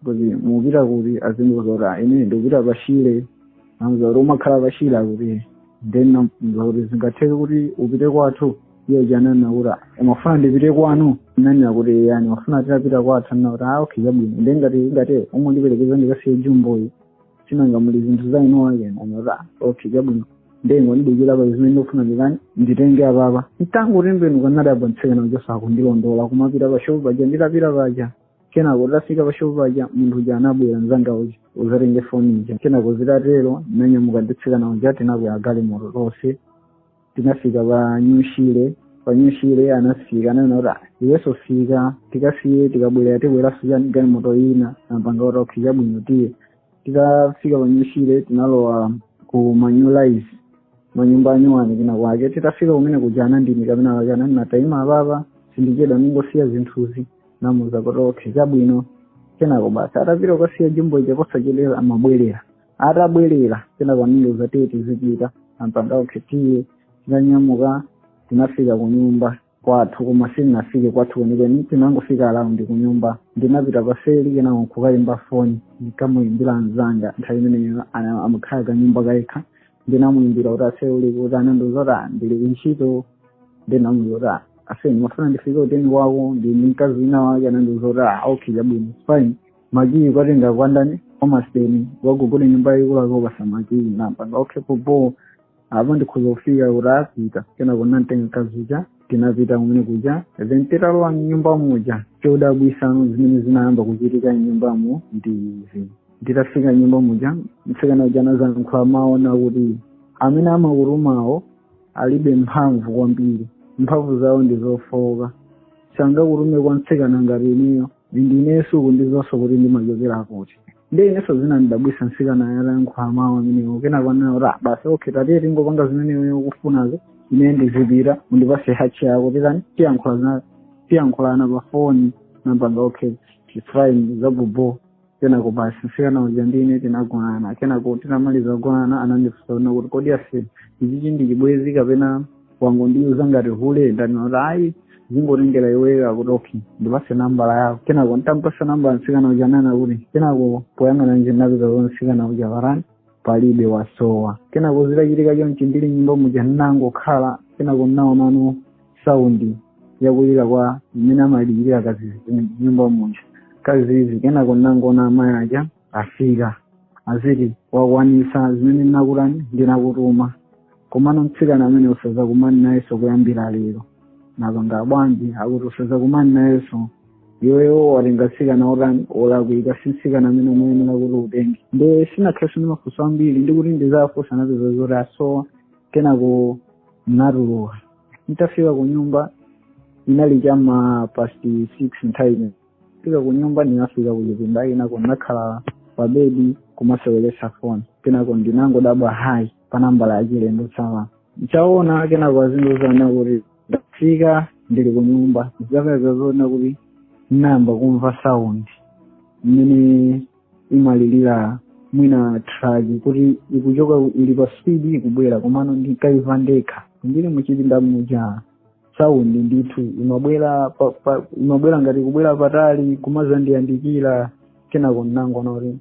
kuti mupita kuti akundiuza kuti "Ah, ine ndikupita pashire namuuza kuti umakhala pashire akuti then namuuza kuti zingatheke kuti tipite kwathu iye uja ananena kuti "Ah, umafuna ndipite kwanu nanena kuti ya ndimafuna titapita kwathu anena kuti ah okay chabwino nde ngati ngati ungandiperekeze ndikasiye jumboyi si nanga muli zinthu za eni ake nanena kuti "Ah, okay chabwino nde ungondidikira pali zimene ndikufuna ndikatenge apapa nditangotembenuka nadabwa mtsikana uja akundilondola kumapita pa shopu paja nditapita paja kenako tafika pa shopu paja munthu uja anabwera mzanga uja kuzatenga foni ija kenako zitatero nanyamuka ndi mtsikana uja tinakwera galimoto tonse tinafika pa nyushire pa nyushire anafika ananena kuti "Ah, iwenso fika tikafike tikabwerera tibweranso chani galimoto ina napanga kuti okay chabwino tiye titafika pa nyushire tinalowa ku ma new lines manyumba anyuwani kina kwake titafika kumene kuja anandiyimika pena pake anati taima apapa sindichedwa ningosiya zinthuzi namuuza kuti okay chabwino kenako basi atapita kukasiya jumbo ija posachedwa anabwerera atabwerera kenako anandiuza tiye tizipita napanga okay tiye tinanyamuka tinafika ku nyumba kwathu koma sindinafike kwathu kwenikweni tinangofika around ku nyumba ndinapita paseli kenako nkukayimba foni ndikamuyimbira mzanga nthawi imeneyo ana- amakhala kanyumba kayekha ndinamuyimbira kuti ase uli kuti anandiuza kuti "Ah, ndili kuntchito ndinamuuza kuti "Ah, ase ndimafuna ndifike ku deni kwako ndili ndi mkazi wina wake anandiuza kuti "Ah, okay chabwino fine makiyi ukatenga kwa ndani amasiteni wa ku nyumba yaikulu akupatsa makiyi napanga okay popo apa ndikhoza kufika kuti ndapita kenaka kukamtenga mkazi uja tinapita kumene kuja then titalowa mnyumba muja chodabwisano zimene zinayamba kuchitika mnyumbamo ndi izi nditafika mnyumba muja mtsikana uja anazayankhula mawu akuti amene amakutumawo alibe mphamvu kwambiri mphamvu zawo ndi zofooka sangakutume kwa mtsikana ngati ineyo ndi ineyo sukundidziwanso kuti ndimachokera kuti ndiye inenso zinandidabwisa msikana atayankhula mawu amenewo kenako anena kuti "Ah, basi okay tatiye tingopanga zimene iwe ukufunazo ine ndizipita undipase hash yako titani tiyankhula zina- tiyankhulana pa foni napanga okay it's fine zabhobho kenako basi msikana uja ndi ine tinagonana kenako tinamaliza kugonana anandifunsa kuti kodi aise ichichi ndi chibwenzi kapena wangondiuza ngati hule ndinati ayi zingotengera iweyo akuti okay ndipase nambala yako kenako ntampasa nambala msikana uja nnanena kuti kenako poyang'ana nje ndapeza kuti msikana uja watani palibe wasowa kenako zitachitika chonchi ndili nyumba muja nnangokhala kenako nnaonano saundi yakulira kwa mmene amalilira kadzidzi mnyumba muja kadzidzi kenako nnangoona amayi aja afika aziti wakwanisa zimene ndinakutani ndinakutuma komano mtsikana amene uja usazakumane nayenso kuyambira lero napanga bwanji akuti usazakumane nayenso iweyo watenga mtsikana otani olakwika si mtsikana amene umayenera kuti utenge nde ndinakhalaso ndi mafunso ambiri ndikati ndizafunsa napeza zoti asowa kenako natuluka nditafika ku nyumba inali chama past six nthawi fika ku nyumba ndinafika ku chipinda kenako ndinakhala pa bedi kumaseweretsa foni kenako ndinangodabwa hayi pa nambala ya chilendo text nditaona kenako azindiuza kuti afika ndili ku nyumba ndikapeza zoona kuti nayamba kumva sound mmene imalilira mwina truck kuti ikuchoka ili pa speed ikubwera komano ndikuimva ndekha ndili muchipinda muja saundi ndithu imabwera pa- pa- imabwera ngati ikubwera patali kumazandiyandikira kenako ndinangoona kuti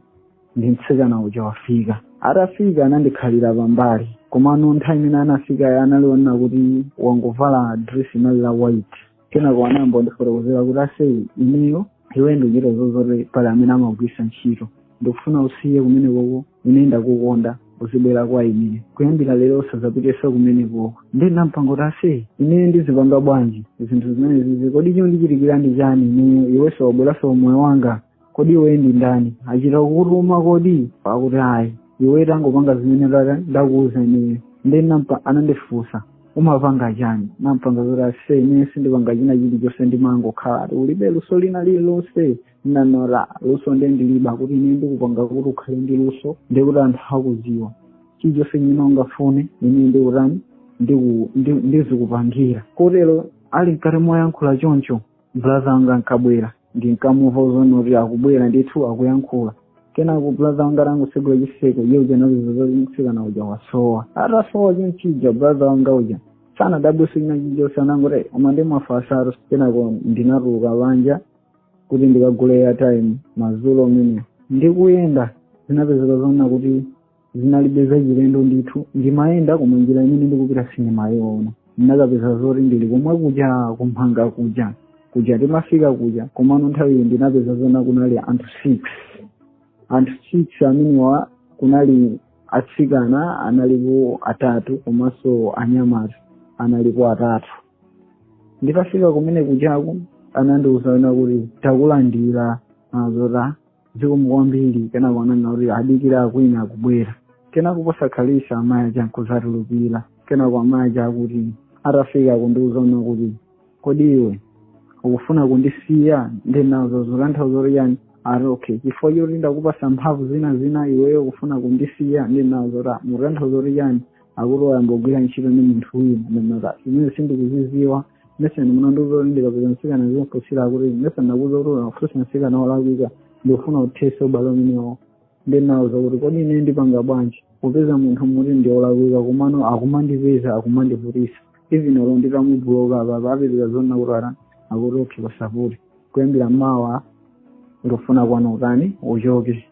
ndi mtsikana uja wafika atafika anandikhalira pambali komano nthawi imene anafikayo anaoneka kuti wangovala dress linali la white kenako anayamba kundifotokozera kuti aise ineyo iwe ndikuchita kudziwa zoti pali amene amakugwirisa ntchito ndikufuna usiye kumene koko ine ndakukonda uzibwera kwa ine kuyambira lero usazapitenso kumeneko nde nampanga kuti aise ine ndizipanga bwanji zinthu zimenezi kodi chikundichitikira ndi chani ine iwenso wabweranso mmoyo wanga kodi iwe ndi ndani achita kukutuma kodi akuti ayi iwe tangopanga zimene ndaka- ndakuuza ineyo nde nampa anandifunsa umapanga chani nampanga kuti aise ine sindipanga china chilichonse ndimangokhala ati ulibe luso lina lililonse ndinawauza luso nde ndiliba kuti ine ndikupanga kuti ukhale ndi luso ndikuti anthu akuziwe chilichonse chimene ungafune ine ndikutani ndiku- ndi- ndizikupangira kotero ali mkati moyankhula choncho brother anga ankabwera ndinkamumva zoona kuti akubwera ndithu akuyankhula kenako brother wanga atangosegula chiseko iye uja ndinazaona msikana uja wasowa atasowa chonchija brother wanga uja sanadabwise china chilichonse anangoti koma ndimwafasaro kenako ndinatuluka panja kuti ndikagule airtime madzulo amene ndikuyenda ndinapeza zoona kuti zinalibe zachilendo ndithu ndimayenda koma njira imene ndikupita sindimayiona ndinakapeza zoti ndili komwe kuja kumphanga kuja kuja ndimafika kuja komano nthawi iyi ndinapeza zoona kunali anthu six anthu six amenewa kunali atsikana analipo atatu komanso anyamata analipo atatu nditafika kumene kujaku anandiuza kunena kuti takulandira ndinawauza kuti zikomo kwambiri kenako ananena kuti adikire ena akubwera kenako posakhalitsa amayi aja nkuzatulukira kenako amayi aja akuti atafika kundiuza kunena kuti kodi iwe ukufuna kundisiya ndinawauza mukutanthauza kuti chani ati okay chifukwa choti ndakupatsa mphamvu zina zina iweyo ukufuna kundisiya ndinawauza kuti mukutanthauza kuti chani akuti wayamba kugwira ntchito ndi munthu wina ndinawauza zimenezo sindikuziziwa mesa munandiuza kuti ndikapeza msikana ndimfunsire akuti mesa ndakuuza kuti unafunsa msikana wolakwika ndikufuna uthese ubale umenewo ndinawauza kuti kodi ine ndipanga bwanji kupeza munthu mukuti ndi wolakwika komano akumandipeza akumandivutisa even olo nditamubuloka papa apitira zonna kuti ara akuti okay palibe vuto kuyambira mawa ndikufuna kwanu utani uchoke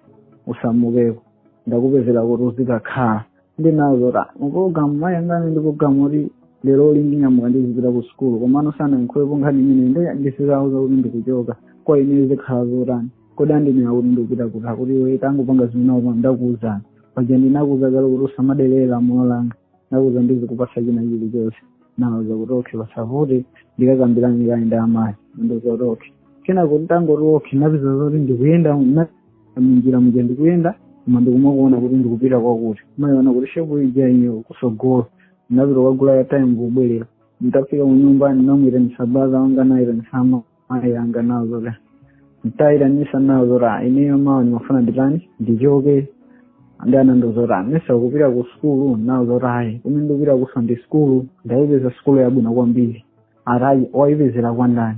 usamukeko ndakupezera kuti uzikakhala ndinawauza kuti program mayi anga ali ndi program yoti lero lino ndinyamuka ndizipita ku sukulu komano sanayankhulepo nkhani imene nde ndizawauza kuti ndikuchoka kwa ine zikhala motani kodi andifunsa kuti ndikupita kuti akuti iwe tangopanga zimene ine ndakuuzazi paja ndinakuuza kale kuti usamaderere lamulo langa ndakuuza ndizikupatsa china chilichonse ndinawauza kuti okay palibe vuto ndikakambirana kaye ndi amayi ndinawauza kuti okay kenako ndangoti okay ndinapeza zoti ndikuyenda munjira muja ndikuyenda koma ndikumaona kuti ndikupita kwakuti ndimayiona kuti shopu ija iyo kusogolo ndapita kukagula airtime kubwerera nditafika kunyumba ndinamuitanisa brother wanga ndinaitanisa mayi anga ndinawauza zoti nditaitanisa ndinawauza zoti "Ah, ineyo mawa ndimafuna nditani ndichoke nde anandiuza kuti mesa ukupita ku sukulu ndinawauza zoti ayi kumene ndikupita kuliso ndi sukulu ndayipeza sukulu yabwino kwambiri ati waipezera kwa ndani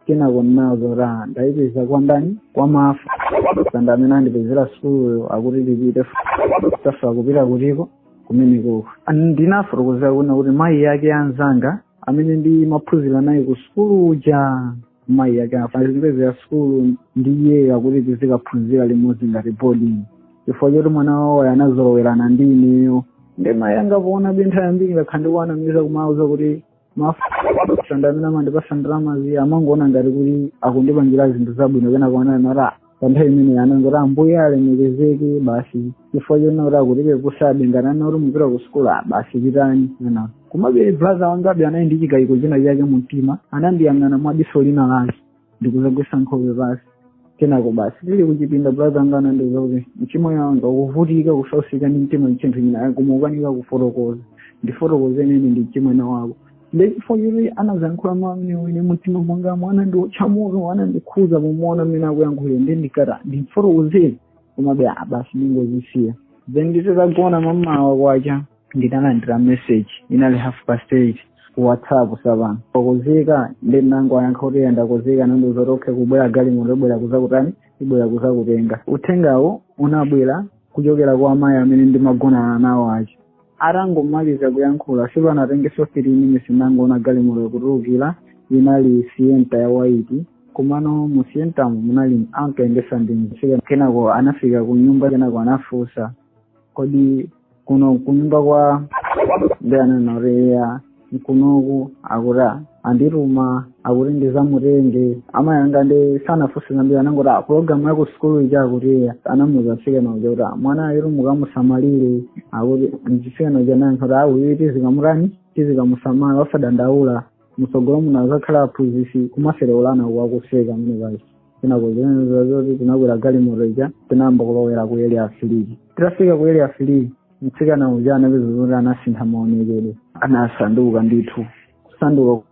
kenako ndinawauza ndaipeza kwa ndani kwa maFasanda amene andipezera sukuluyo akuti ndipite tatha kupita kutiko kumeneko ndinafotokozera kuna kuti mayi yake anzanga amene ndimaphunzira naye ku sukulu uja mayi yake andipezera sukulu ndiye akuti tizikaphunzira limodzi ngati boarding chifukwa choti mwana wawo anazolowerana ndi ineyo ndiye mayi anga poona pa nthawi yambiri ndakhala ndikuwanamiza kumawauza kuti maFasanda amene amandipasa ndalama ndiye amangoona ngati kuti akundipangira zinthu zabwino kenako naona pa nthawi imeneyi anangoti ambuye alemekezeke basi chifukwa chonena kuti akutitengabe ngati ana kuti mupite ku sukulu ah, basi pitani ndiye komabe brother wangabe anali ndi chikayiko china chake mu mtima anandiyang'ana mwa diso lina lake ndikuzagwetsa nkhope basi kenako basi tili kuchipinda brother anga anandiuza kuti mchimwene wanga ukuvutika ukusautsika ndi mtima ndi chinthu china koma ukanika kufotokoza ndifotokoze ine ndi mchimwene wako nde chifukwa choti anazayankhula mawu amene ine mumtima mwanga anandiotcha moto anandikhuza pomuona mmene akuyankhulira ndinkati ndimfotokozere komabe ah, basi ndingozisiya then ndititagona m'mamawa kwacha ndinalandira message inali half past eight ku whatsapp tsopano wakonzeka ndiye ndinangoyankha kuti ndakonzeka anandiuza kuti okay ikubwera galimoto ibwere kuzakutani ibwere kuzakutenga uthengawo unabwera kuchokera kwa amayi amene ndimagonana nawo aja atangomaliza kuyankhula sipanatengenso 3 minutes nangoona galimoto ikutulukira inali sienta ya white komano mu sientamu munali ankayendesa ndi mtsikana kenako anafika ku nyumba kenako anafunsa kodi kuno kunyumba kwa ndiye ananena kuti eya mkunoku akuti andituma akuti ndizamutenge amayi anga ndiye sanafunse zambiri anangoti a pulogalamu ya ku sukulu ija akuti eya anamuza mtsikana uja kuti "Ah, mwanayu mukamusamalire akuti mtsikana uja anayankha kuti ayi tizikamutani tizikamusamala osadandaula mtsogolo muno azakhala aphunzitsi kumasereulana akuseka zimene paja kenako zinapezeka zoti tinakwera galimoto ija tinayamba kulowera ku area three titafika ku area three mtsikana uja ndinapeza zoti anasintha maonekedwe anasanduka ndithu kusanduka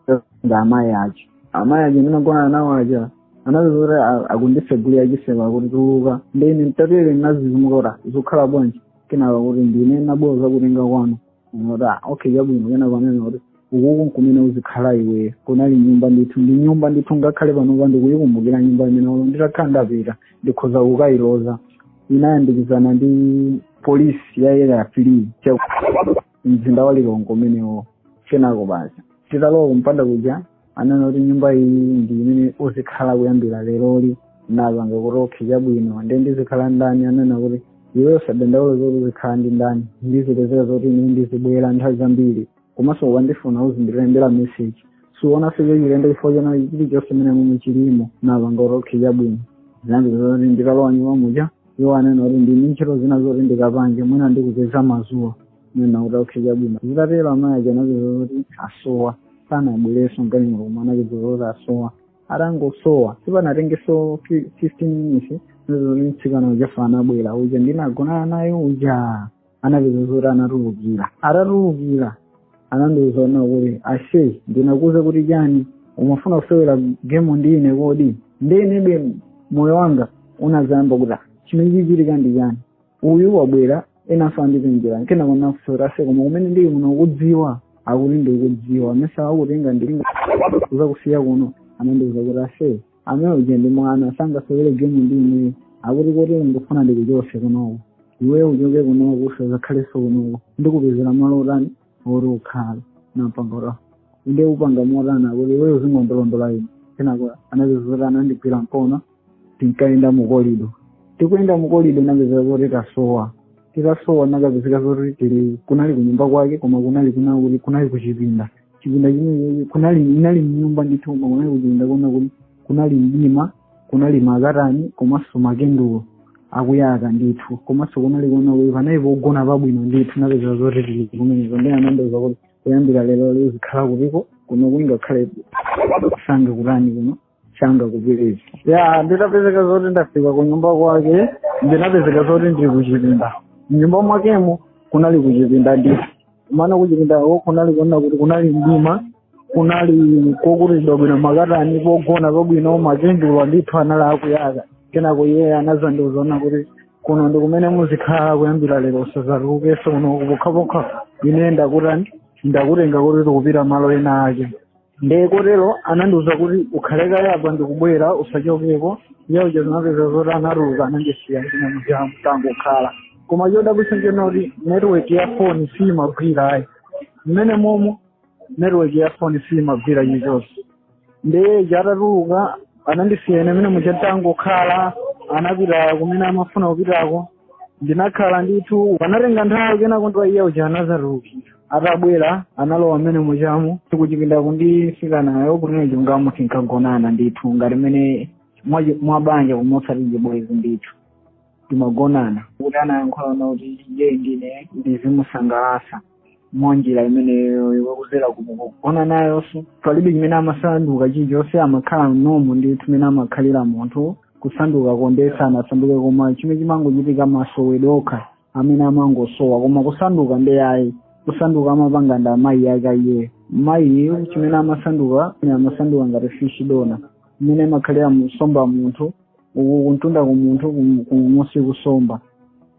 ngati amayi aja amayi aja ndinagona nawo aja ndinapeza kuti a- akundisegulira chiseko akuti tuluka ndine mtatele ndinazizimuka kuti zikukhala bwanji kenako kuti ndine ndinabwera kuzakutenga kwanu Nora, okay chabwino kenako anati uku n'kumene uzikhala iwe kunali nyumba ndithu ndi nyumba ndithu ngakhale panopa ndikuyikumbukira nyumba imene ulo nditakhala ndapita ndikhoza kukayiloza inayandikizana ndi polisi ya area three cha mzinda wa Lilongwe umenewo kenako basi titalowa kumpanda kuja anena kuti nyumba iyi ndi imene uzikhala kuyambira leroli ndinapanga kuti okhe chabwino ndiye ndizikhala ndi ndani anena kuti iwe usadandaula zoti uzikhala ndi ndani ndizipezera zoti ine ndizibwera nthawi zambiri komanso ukandifuna uzindilembera meseji suona chinthu chilendo chifukwa choti chilichonse mmene muno chilimo napanga kuti okhe chabwino zinapezeka zoti nditalowa nyumba muja iwo anena kuti ndili ndi ntchito zina zoti ndikapange mwina ndikupeza mazuwa nnati okhe chabwino zitatero amayi aja anapezeka kuti asowa sanabwerenso mgalimoto koma anapezeka kuti asowa atangosowa sipanatengeso 15 minutes zoti mtsikana uja anabwera uja ndinagonana naye uja anapezeka zoti anatulukira atatulukira anandiuza zonena kuti ashe ndinakuuza kuti chani umafuna kusewera gemu ndi ine kodi ndi inebe moyo wanga unazayamba kuti chimene chikuchitika ndi chani uyu wabwera enanso wandipezera kenako nati ase koma kumene ndili kuno ukudziwa akuti ndikudziwa amene anakutenga ndi kuzakusiya kuno anandiuza kuti ase amene uja ndi mwana sangasewere gemu ndi ineyo akuti kotero ndikufuna ndikuchose kunoko iweyo uchoke kunoko usazakhalenso kunoko ndikupezera malo otani oti uzikhala ndinapanga kuti inde upanga motani akuti iweyo uzingondolondola ine kenako anapezeka zoti anandigwira mkono tinkayenda mukolido tikuyenda mukolido tinapezeka zoti tasowa titasowa tinakapezeka zoti tili kunali kunyumba kwake koma kunali kunali kunali kuchipinda chipinda chimene kunali inali mnyumba ndithu koma kunali kuchipinda kuona kuti kunali mdima kunali makatani komanso makendulo akuyaka ndithu komanso kunali kuona kuti panali pogona pabwino ndithu tinapezeka zoti tili kumeneko ndiye anandiuza kuti kuyambira lero uzikhala kuti kuno ungakhale sunga kutani kuno changa kupirira ya ndinapezeka zoti ndafika ku nyumba kwake ndinapezeka zoti ndili kuchipinda mnyumba mwakemo kunali kuchipinda ndiye kumene kuchipindako kunali kuona kuti kunali mdima kunali kokutiridwa bwino makatani pogona pabwino makendulo ndithu anali akuyaka kenako iye anazandiuza zonena kuti kuno ndi kumene muzikhala kuyambira lero usazatulukeso kuno pokhapokha ine ndakutani ndakutenga kuti tikupita malo ena ake ndiye kotero anandiuza kuti ukhale kaye apa ndikubwera usachokeko ndiye zinapezeka zoti anatuluka anandisiya ine muja nditangokhala koma chodabwitsa nchonena kuti network ya foni siyimagwira ayi mmenemo momo network ya foni siyimagwira chilichonse ndiye uja atatuluka anandisiya ine mmene muja nditangokhala anapita kumene amafuna kupitako ndinakhala ndithu panatenga nthawi kenako ndiye iye uja anazatulukira atabwera analowa mmene mujamo kuchipinda kungofika nayo kunena chilungamo tinkagonana ndithu ngati mmene mwa- mwabanja komanso chibwezi ndithu timagonana kuti anayankhula kuti iye ndine ndizimusangalatsa mwanjira imeneyo akuzera kugona nayonso palibe chimene amasanduka chilichonse amakhala momwemo ndi chimene amakhalira munthu kusanduka konse sanasanduke koma chimene chimangochitika masowedwe okha amene amangosowa koma kusanduka nde ayi kusanduka amapanga ndi amayi ake a iyeyo mayi chimene amasanduka amasanduka ngati fishi dona imene imakhalira nsomba munthu uku kumtunda kumunthu kum- kumunsi kunsomba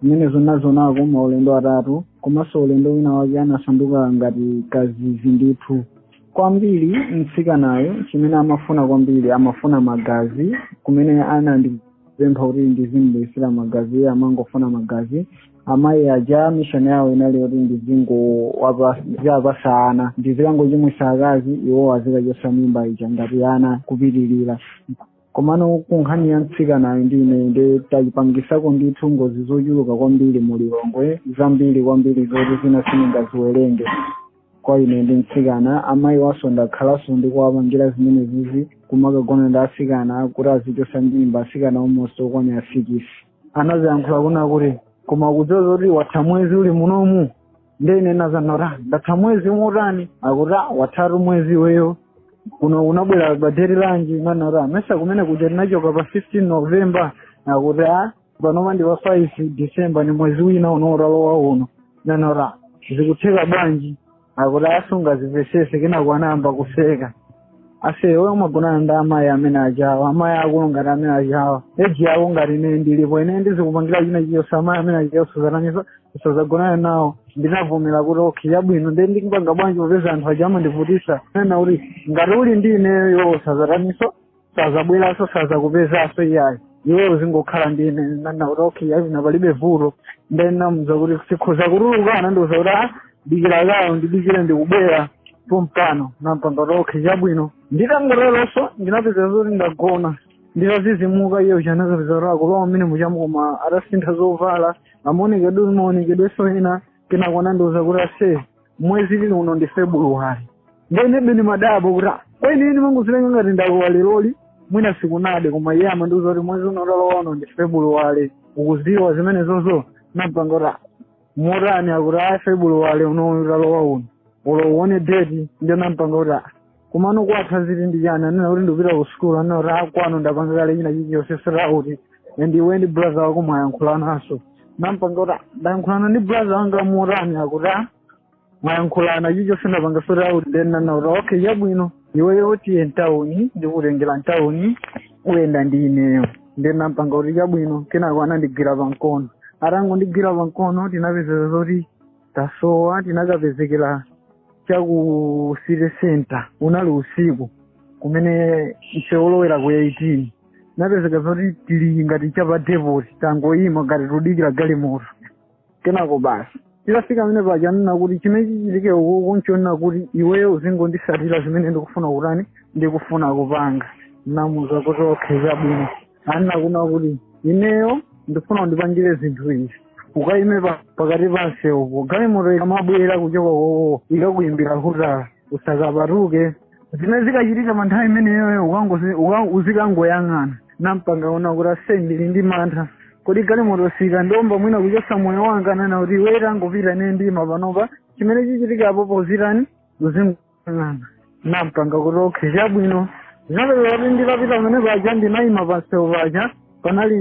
zimenezo ndazionako maulendo atatu komanso ulendo wina wake anasanduka ngati kadzidzi ndithu kwambiri mtsikanayo chimene amafuna kwambiri amafuna magazi kumene anandipempha kuti ndizimubwesera magazi iye amangofuna magazi amayi aja mishoni yawo inali yoti ndizingowapasa ana ndizikangochimwisa akazi iwo azikachosa mimba ija ngati ana kupitilira komano ku nkhani ya mtsikanayo ndi ine nde tapangisako ndithu ngozi zochuluka kwambiri mu lilongwe zambiri kwambiri zoti zina sindingaziwerenge kwa ine ndi mtsikana amayi awonso ndakhalanso ndikuwapangira zimenezizi kumakagona ndi asikana kuti azichosa mimba asikana almost okwanira sikisi amene ndinaziyankhula kunena kuti koma kudziwa zoti watha mwezi uli munomu nde ine nati ah ndatha mwezi motani akuti "Ah, wathatu mwezi iweyo kuno unabwera pa deti lanji nanena mesa kumene kuja tinachoka pa 15 november akuti a panopa ndi pa 5 december ndi mwezi wina uno walowa uno nanena zikutheka bwanji akuti ah sungazimvesese kenako anayamba kuseka ase iwe umagonana ndi amayi amene aja wa amayi akulu ngati amene ajawo eji yako ngati ine ndilipo ine ndizikupangira china chilichonse amayi amene ajawa usazaganize usazagonana nawo ndinavomera kuti okay yabwino nde ndikupanga bwanji popeza anthu aja amandivutisa anena kuti ngati uli ndi ineyo usazataninso sazabweranso sazakupezaso iyayi iwe uzingokhala ndi ine nanena kuti okay yabwino palibe vuto nde namuza kuti ndikhoza kutuluka anandiuza kuti ah dikira kaye undidikire ndikubwera pompano nampanga okay chabwino nditangoteronso ndinapeza zoti ndagona nditazizimuka iye uja ndinakapeza kuti akulowa mmenemuja koma atasintha zovala maonekedwe maonekedwenso ena kenako anandiuza kuti ase mwezi uli uno ndi februwari nde inebe ndimadabwa kuti "Ah, kwa ine ndimangoziwerenga ngati ndalowa leroli mwina sikunade koma iye amandiuza kuti mwezi uno walowa uno ndi februwari ukuziwa zimenezozo nampanga kuti "Ah, motani akuti ah februwari unowu walowa uno olo uone deti ndiye nampanga kuti "Ah, komano kwatha ziti ndichani anena kuti ndikupita ku sukulu anena kuti kwanu ndapanga kale china chilichonse sera kuti iwe ndi brother wako mwayankhulananso nampanga kuti "Ah, ndayankhulana ndi brother wanga motani akuti "Ah, mwayankhulana ichocho ndinapanga zoti a nde ananena kuti okay chabwino iweyo tiye mtawuni ndikutengera mtawuni uyenda ndi ineyo nde nampanga kuti chabwino kenako anandigwira pamkono atangondigwira pamkono tinapezeka zoti tasowa tinakapezekera cha ku city center unali usiku kumene msewu wolowera ku 18 napezeka zoti tili ngati cha pa depot tangoyima ngati tikudikira galimoto kenako basi titafika pamene paja anena kuti chimene chichitike kunoku nchonena kuti iweyo uzingonditsatira zimene ndikufuna kutani ndikufuna kupanga namuza kuti okay chabwino anena kuna kuti ineyo ndikufuna undipangire zinthu izi ukaime pa- pakati pa msewupo galimoto ikamabwera kuchokako ikakuyimbira hutala usakapatuke zimene zikachitika pa nthawi imeneyoyo ukangosi- uka- uzikangoyang'ana nampanga zona kuti ase ndili ndi mantha kodi galimoto sikandiomba mwina kuchotsa moyo wanga anena kuti iwe tangopita nde ukaima panopa chimene chichitika apopo uzitani uzingoyang'ana nampanga kuti okay chabwino zinapezeka kuti ndikapita pamene paja ndinayima pa msewu paja panali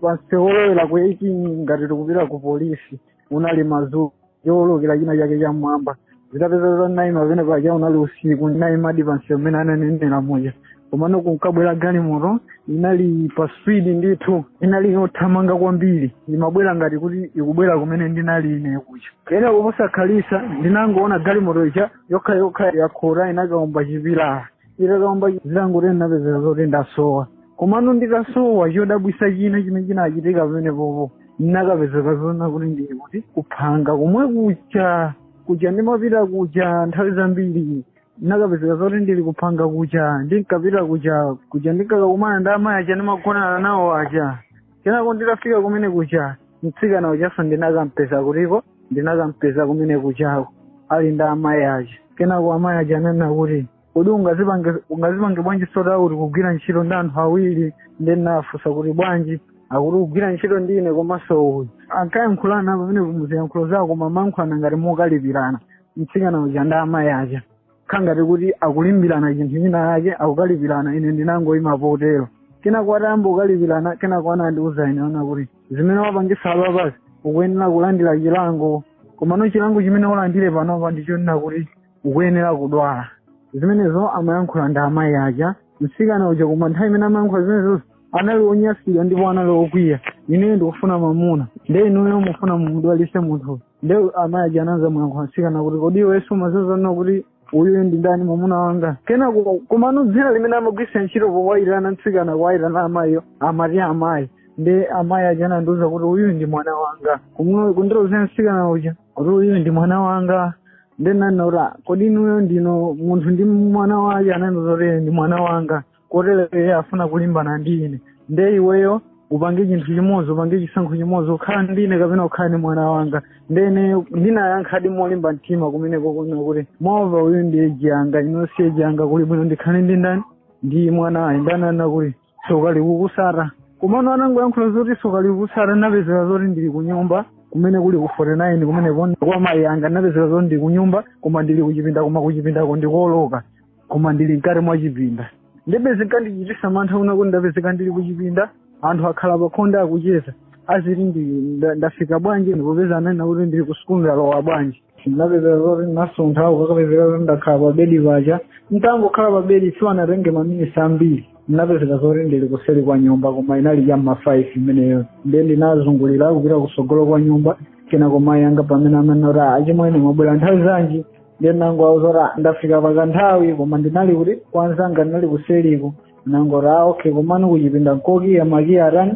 pa msewu olowera ku 18 ngati tikupita ku polisi unali madzulo yowolokera china chake cham'mwamba zitapezeka naima pamene paja unali usiku ndinaimadi pansi mmene ananenera muja komano kunkabwera galimoto inali pa speed ndithu inali yothamanga kwambiri imabwera ngati kuti ikubwera kumene ndinali ine kuja kena kuposakhalitsa ndinangoona galimoto ija yokha yokha yakhota inakaomba chipilala itakaomba zitangotero ndinapezeka zoti ndasowa komano nditasowa chodabwisa china chimene chinachitika pamenepopo ndinakapezeka zona kuti ndili kuti kuphanga komwe kuja kuja ndimapita kuja nthawi zambiri ndinakapezeka zoti ndili kuphanga kuja ndinkapita kuja kuja ndinkakakumana ndi amayi aja ndimagonana nawo aja kenako nditafika kumene kuja mtsikana ujanso ndinakampeza kutiko ndinakampeza kumene kujako ali ndi amayi aja kenako amayi aja ananena kuti kodi ungazipange ungazipange bwanji zoti akuti kugwira ntchito ndi anthu awiri nde ndinawafunsa kuti bwanji akuti kugwira ntchito ndi ine komanso uyu ankayankhulana pamenepo mu ziyankhulo zawo koma amayankhulana ngati mokalipirana mtsikana uja ndi amayi aja kukhala ngati kuti akulimbirana chinthu china chake akukalipirana ine ndinangoyima potero kenako atayamba kukalipirana kenako anandiuza ine zona kuti zimene wapangazi apapazi ukuyenera kulandira chilango komano chilango chimene ulandire panopa ndichonena kuti ukuyenera kudwala zimenezo amayankhula ndi amayi aja mtsikana uja koma nthawi imene amayankhula zimenezozo anali onyasidwa ndipo anali okwiya ineyo ndikufuna mamuna nde inuyo mufuna mumudwalise munthu nde amayi aja anadzamuyankha mtsikana kuti kodi iweyo sumadziwa zonena kuti uyu ndi ndani mwamuna wanga kenako komano dzina limene amagwiritsa ntchito powayitana mtsikana kuwayitana amayiyo amati amayi nde amayi aja anandiuza kuti uyu ndi mwana wanga Kumno- kundilozera mtsikana uja kuti uyu ndi mwana wanga nde nanena kuti kodi inuyo ndinu munthu ndi mwana wake anandiuza kuti ndi mwana wanga kotero iye afuna kulimbana ndi ine nde iweyo upange chinthu chimodzi upange chisankho chimodzi ukhala ndi ine kapena ukhala ndi mwana wanga nde ine ndinayankhadi molimba mtima kumeneko kunena kuti mova uyu ndi eji yanga inu si eji yanga kuli bwino ndikhale ndi ndani ndi mwanayu nde ananena kuti soka likukusata komano anangoyankhula zoti soka likukusata napezeka zoti ndili kunyumba kumene kuli ku 49 kumene kwa mayi anga napezeka zoti ndili kunyumba koma ndili kuchipinda koma kuchipindako ndi koloka koma ndili mkati mwa chipinda ndebe zinkandichitisa mantha kunena kuti ndapezeka ndili kuchipinda anthu akhala pakhonde akucheza aziti ndi nda- ndafika bwanji ndikupeza ananena kuti ndili ku sukulu ndalowa bwanji ndapezeka zoti ndinasuntha kukapezeka zoti ndakhala pa bedi paja nditangokhala pa bedi sipanatenge maminisi ambiri ndinapezeka zoti ndili kuseri kwa nyumba koma inali cha ma five imeneyo nde ndinazungulira kupita kusogolo kwa nyumba kenako mayi anga pamene amanena kuti achimwene mwabwera nthawi zanji ndiye nangowauza kuti "Ah, ndafika pakanthawi koma ndinali kuti kwanzanga ndinali kuseliko nangoti a okay komano kuchipinda nkokiya makiya atani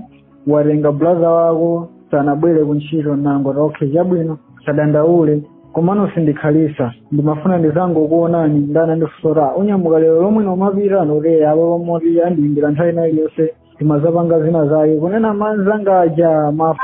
watenga bulaza wako sanabwere kuntchito nangoti okay chabwino sadandaule komano sindikhalisa ndimafuna ndizangokuonani nde anandifunsa kuti unyamuka lero lomwe lino kumapita nati eya apa pamoti andiyimbira nthawi ina iliyonse timazapanga zina zake kunena manzanga aja ma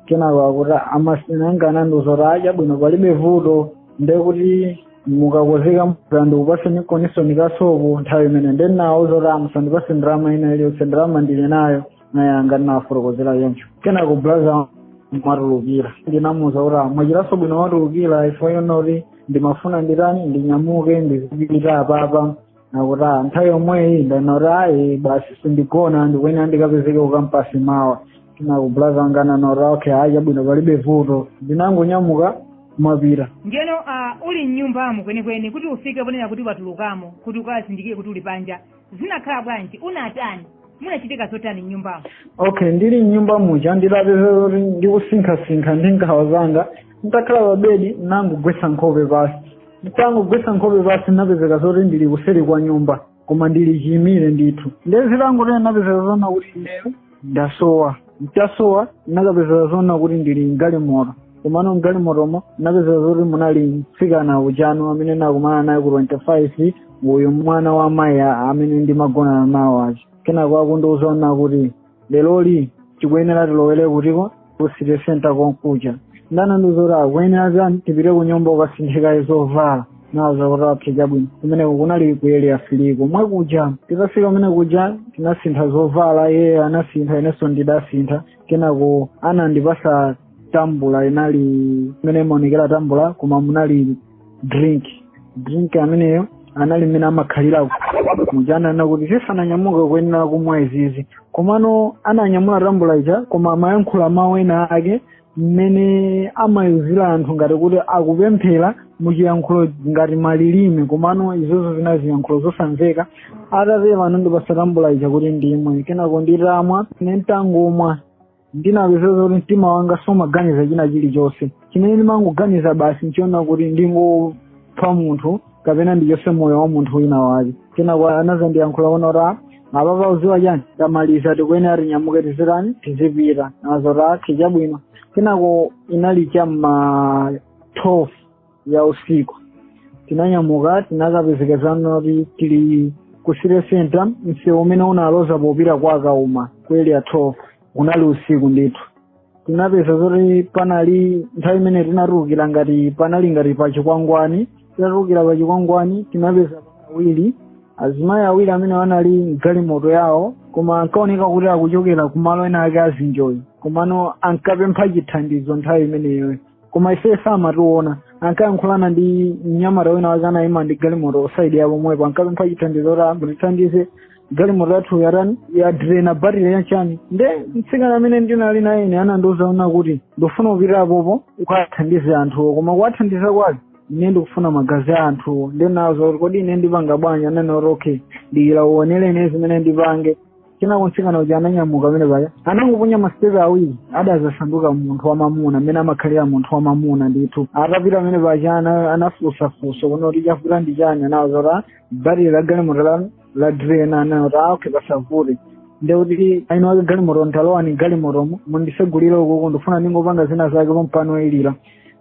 kenako akuti amasteni anga anandiuza kuti a chabwino palibe vuto nde kuti mukakonzeka mvula ndikupase nikoniso ndi kasopo nthawi imene nde ndinawauza kuti a musandipase ndalama ina iliyonse ndalama ndili nayo nayanga ndinawafotokozera choncho kenako blaza mwatulukira ndinamuuza kuti a mwachitaso bwino mwatulukira ifo yonoti ndimafuna nditani ndinyamuke ndizipita apapa nakuti "Ah, nthawi yomweyi ndinati ayi basi sindigona ndikuyenera ndikapezeke kukampasi mawa tinakublaza wanga nangoti okay ayi chabwino palibe vuto ndinangonyamuka kumapita ndiyeno uh, uli mnyumbamo kwenikweni kuti ufike ponena kuti watulukamo kuti ukazindikire kuti uli panja zinakhala bwanji unatani munachitika zotani mnyumbamo okay ndili mnyumba muja nditapeza kuti ndikusinkhasinkha ndi nkhawa zanga nditakhala pa bedi nangogwetsa nkhope pasi nditangogwetsa nkhope pansi napezeka zoti ndili kuseri kwa nyumba koma ndili chiyimire ndithu ndiye zitangotene napezeka zonena kuti ineyo ndasowa nditasowa nakapezeka zonena kuti ndili mgalimoto komano mgalimotomo napezeka zoti munali mtsikana uja amene nakumana naye ku 25 uyu mwana wa mayi a- amene ndimagonana nawo aja kenako akundiuza zonena kuti leroli tikuyenera tilowere kutiko ku city center konkuja nde anandiuza kuti tikuyenera tani tipite ku nyumba ukasinthe kaye zovala ndinawauza kuti ah chabwino kumeneko kunali ku Area 3 komwe kuja titafika kumene kuja tinasintha zovala iye anasintha inenso ndidasintha kenako anandipasa tambula inali imene imaonekera tambula koma munali drink drink ameneyo anali mmene amakhalira muja ananena kuti tisananyamuke kuyenera kumwa izizi komano ananyamula tambula ija koma amayankhula mawu ena ake mmene amayuzila anthu ngati kuti akupemphera muchiyankhulo ngati malilime komano izozo zinali ziyankhulo zosamveka atatero anandipasa tambula ija kuti ndimwe kenako nditamwa nentangomwa ndinapezeka kuti mtima wanga sumaganiza china chilichonse chimene ndimangoganiza basi nchonena kuti ndingopha munthu kapena ndichotse moyo wa munthu wina wake kenako anazandiyankhula kunena kuti "Ah, apapa uziwa chani tamaliza tikuyenera tinyamuke tizitani tizipita ndinawauza kuti okay chabwino kenako inali cha m'ma 12 ya usiku tinanyamuka tinakapezeka zonena kuti tili ku city center msewu umene unaloza popita kwa Kauma ku area 12 unali usiku ndithu tinapeza zoti panali nthawi imene tinatulukira ngati panali ngati pa chikwangwani tinatulukira pa chikwangwani tinapeza awiri azimayi awiri amene anali mgalimoto yawo koma ankaoneka kuti akuchokera kumalo ena ake azinjoy komano ankapempha chithandizo nthawi imeneyoyo koma ife samationa ankayankhulana ndi mnyamata wina wake anayima ndi galimoto saidi ya pomwepo ankapempha chithandizo kuti amwene tithandizeni galimoto yathu yatani yadirena batire chanichani nde mtsikana amene ndinali naye ine anandiuza kunena kuti ndikufuna upite apopo ukathandize anthuwo koma kuwathandiza kwake ine ndikufuna magazi a anthuwo nde ndinawauza kuti kodi ine ndipanga bwanji ananena kuti okay dikira uonere ine zimene ndipange kenako mtsikana uja ananyamuka pamene paja anangoponya masitepe awiri anadzasanduka munthu wamamuna amene amakhalira munthu wamamuna ndithu atapita pamene paja ana- anafunsafunsa kunena kuti chavuta ndi chani anawuza kuti batiri la galimoto la ladrena anawuza kuti okay pasavute ndekuti eni ake galimoto talowani galimotomo mundisegulire ukuku ndifuna ndingopanga zina zake pompano ilira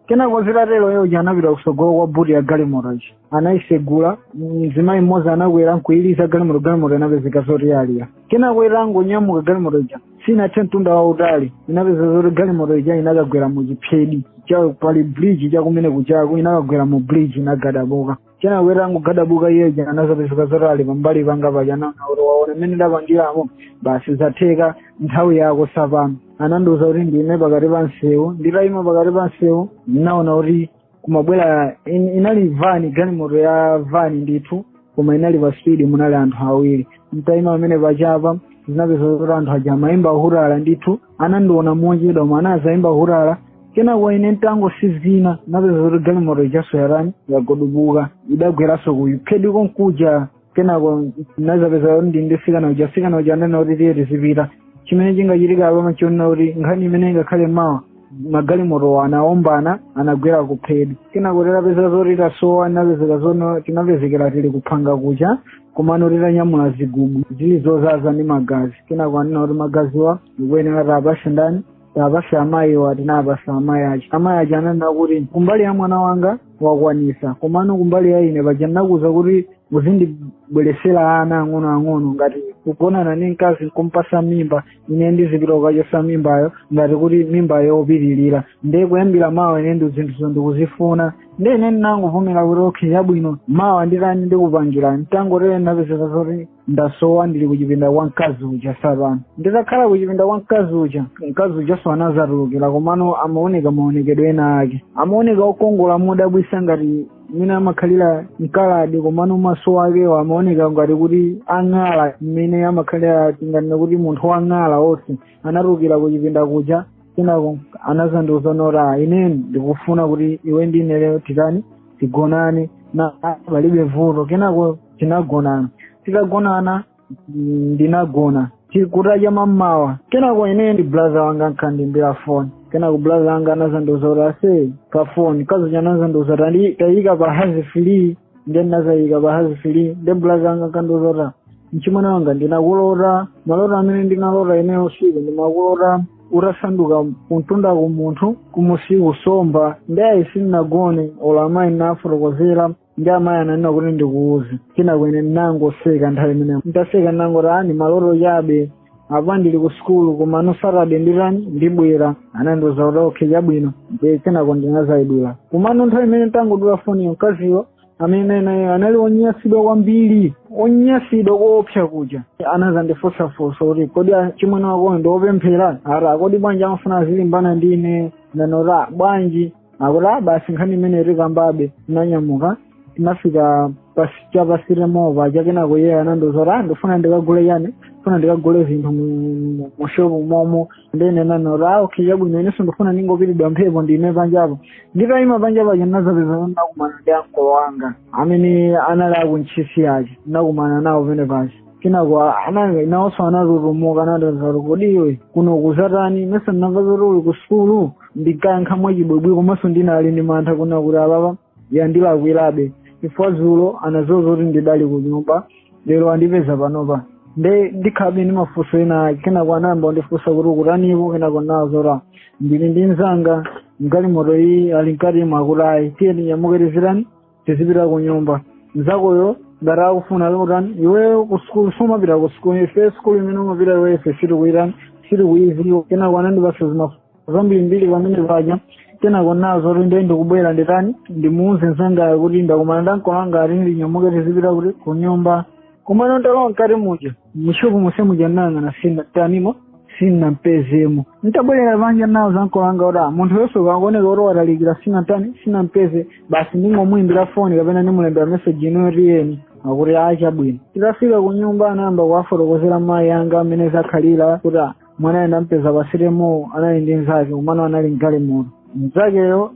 kenako zitatero iye uja anapita kusogolo kwa buti ya galimoto ija anayisegula mzimayi mmodzi anakwera nkuyiliza galimoto galimoto inapezeka zoti yalira kenako itangonyamuka galimoto ija sinathe mtunda wautali inapezeka zoti galimoto ija inakagwera mu chiphedi chapali bridge chakumene kujako inakagwera mu bridge inagadabuka kenako itangogadabuka iye uja anazapezeka zoti ali pambali panga paja nanena kuti waona mmene ndapangiramo basi zatheka nthawi yako sapano anandiuza kuti ndiime pakati pa msewu nditayima pakati pa msewu ndinaona kuti kumabwera in, inali vani galimoto ya vani ndithu koma inali pa speed munali anthu awiri nditaima pamene pajapa ndinapeza kuti anthu aja amayimba hutala ndithu anandiona mochedwa koma anazayimba hutala kenako ine nditangotsinzina napeza kuti galimoto ijaso yatani yagudubuka idagweranso kuphediko kuja kenako nazapeza kuti ndi ndi msikana uja msikana uja anena kuti tiye tizipita chimene chingachitike apapa nchonena kuti nkhani imene ingakhale mawa magalimotowa anaombana anagwera kuphedi kenako tinapezeka zoti tasowa tinapezeka zoti tinapezekera tili kuphanga kuja komano titanyamula zigubu zili zozaza ndi magazi kenako anena kuti magaziwa tikuyenera tapase ndani tapase amayiwa tinapasa amayi aja amayi aja ananena kuti kumbali ya mwana wanga wakwanisa komano kumbali ya ine paja ndinakuza kuti uzindibweresera ana ang'onoang'ono ngati kugonana ndi mkazi nkumpasa mimba ine ndizipita kukachosa mimbayo ngati kuti mimbayo yopitirira nde kuyambira mawa ine ndi zinthuzo ndikuzifuna nde ine ndinangovomera kuti okay chabwino mawa nditani ndikupangira nditangotere ndapezeka zoti ndasowa ndili kuchipinda kwa mkazi uja sopano nditakhala kuchipinda kwa mkazi uja mkazi ujanso anazatulukira komano amaoneka maonekedwe ena ake amaoneka okongola modabwisa ngati mmene amakhalira mkaladi komano maso akewo amaoneka ngati kuti ang'ala mmene amakhalira tinganena kuti munthu wang'ala onse anatulukira kuchipinda kuja kenako anazandiuza kuti ah ine ndikufuna kuti iwe ndi ine lero titani tigonane na ah, palibe vuto kenako tinagonana titagonana mm, ndinagona kutacha mamawa kenako ine ndi brother wanga ankandimbira foni kenako brother wanga anazandiuza kuti ase pa foni kazocha anazandiuza kuti tayika pa hands free nde ndinazayika pa hands free nde bulazi anga ankandiuza kuti mchimwene wanga ndinakulota maloto amene ndinalota ineyo usiku ndinakulota utasanduka kumtundaku munthu kumusiku nsomba nde ayi sindinagone olo amayi ndinafotokozera nde amayi ananena kuti ndikuuze kenako ine ndinangoseka nthawi imeneyo nditaseka ndinangoti ah ndi maloto chabe apa ndili ku sukulu komano saturday nditani ndibwera anandiuza kuti okay chabwino ndiye kenako ndinazayidula komano nthawi imene tangodula foniyo mkaziyo amene ndinali naye anali onyasidwa kwambiri onyasidwa koopsa kuja anazandifunsafunsa kuti kodi mchimwene wakoyo ndiopemphera eti kodi bwanji amafuna azilimbana ndi ine nanena kuti bwanji akuti ah basi nkhani imeneyi tikambabe tinanyamuka tinafika pas- cha pasire mova chakenako iye anandiuza kuti ah ndifuna ndikagule chani ndifuna ndikagule zinthu mu- mushopu momo nde nanena kuti "Ah, okay chabwino inenso ndifuna ndingopitidwa mphepo ndiime panjapo nditayima panjapo paja ndinazapeza nakumana ndi ankolo wanga amene anali aku Ntchisi aja nakumana nawo penepaja kenako anali nawonso anatutumuka anatazaro kodi iwe kuno ukuzatani mesa ndinamva zoti uli ku sukulu ndinkayankha mwachibwibwi komanso ndinali ndi mantha kuona kuti apapa yandilakwirabe chifukwa zulo anazauza kuti ndidali ku nyumba lero andipeza panopa nde ndikhalabe ndi mafunso ena ake kenako anayamba kundifunsa kuti ukutanipo kenako nawauza zoti ndili ndi mzanga mgalimoto iyi ali mkati mwa akuti ayi tiyeni nyamukereserani tizipita ku nyumba mzakoyo ngati akufuna kutani iweyo ku sukulu sumapita ku sukulu ife sukulu imene umapita iwe ife sitikuitani sitikuyiziwa kenako anandipasa zimafunso zambirimbiri pamene paja kenako nawauza kuti ndiye ndikubwera nditani ndimuuze mzangayo kuti ndakumana ndankolanga akuti ndinyamuke tizipita kuti ku nyumba komano nditalowa mkati muja mushopu monse muja ndinayang'ana sindinamtanimo sindinampezemo ntabwerera panja nawauza ankolanga kuti "Ah, munthuyo nde akuoneka kuti watalikira sindinamtani sindinampeze basi ndingomuyimbira foni kapena ndimulembera meseji inuyo tiyeni akuti ah chabwino titafika ku nyumba anayamba kuwafotokozera mayi anga mmene zakhalira kuti "Ah, mwanayo ndampeza pasitemo anali ndi mnzake komano anali mgalimoto mnzakeyo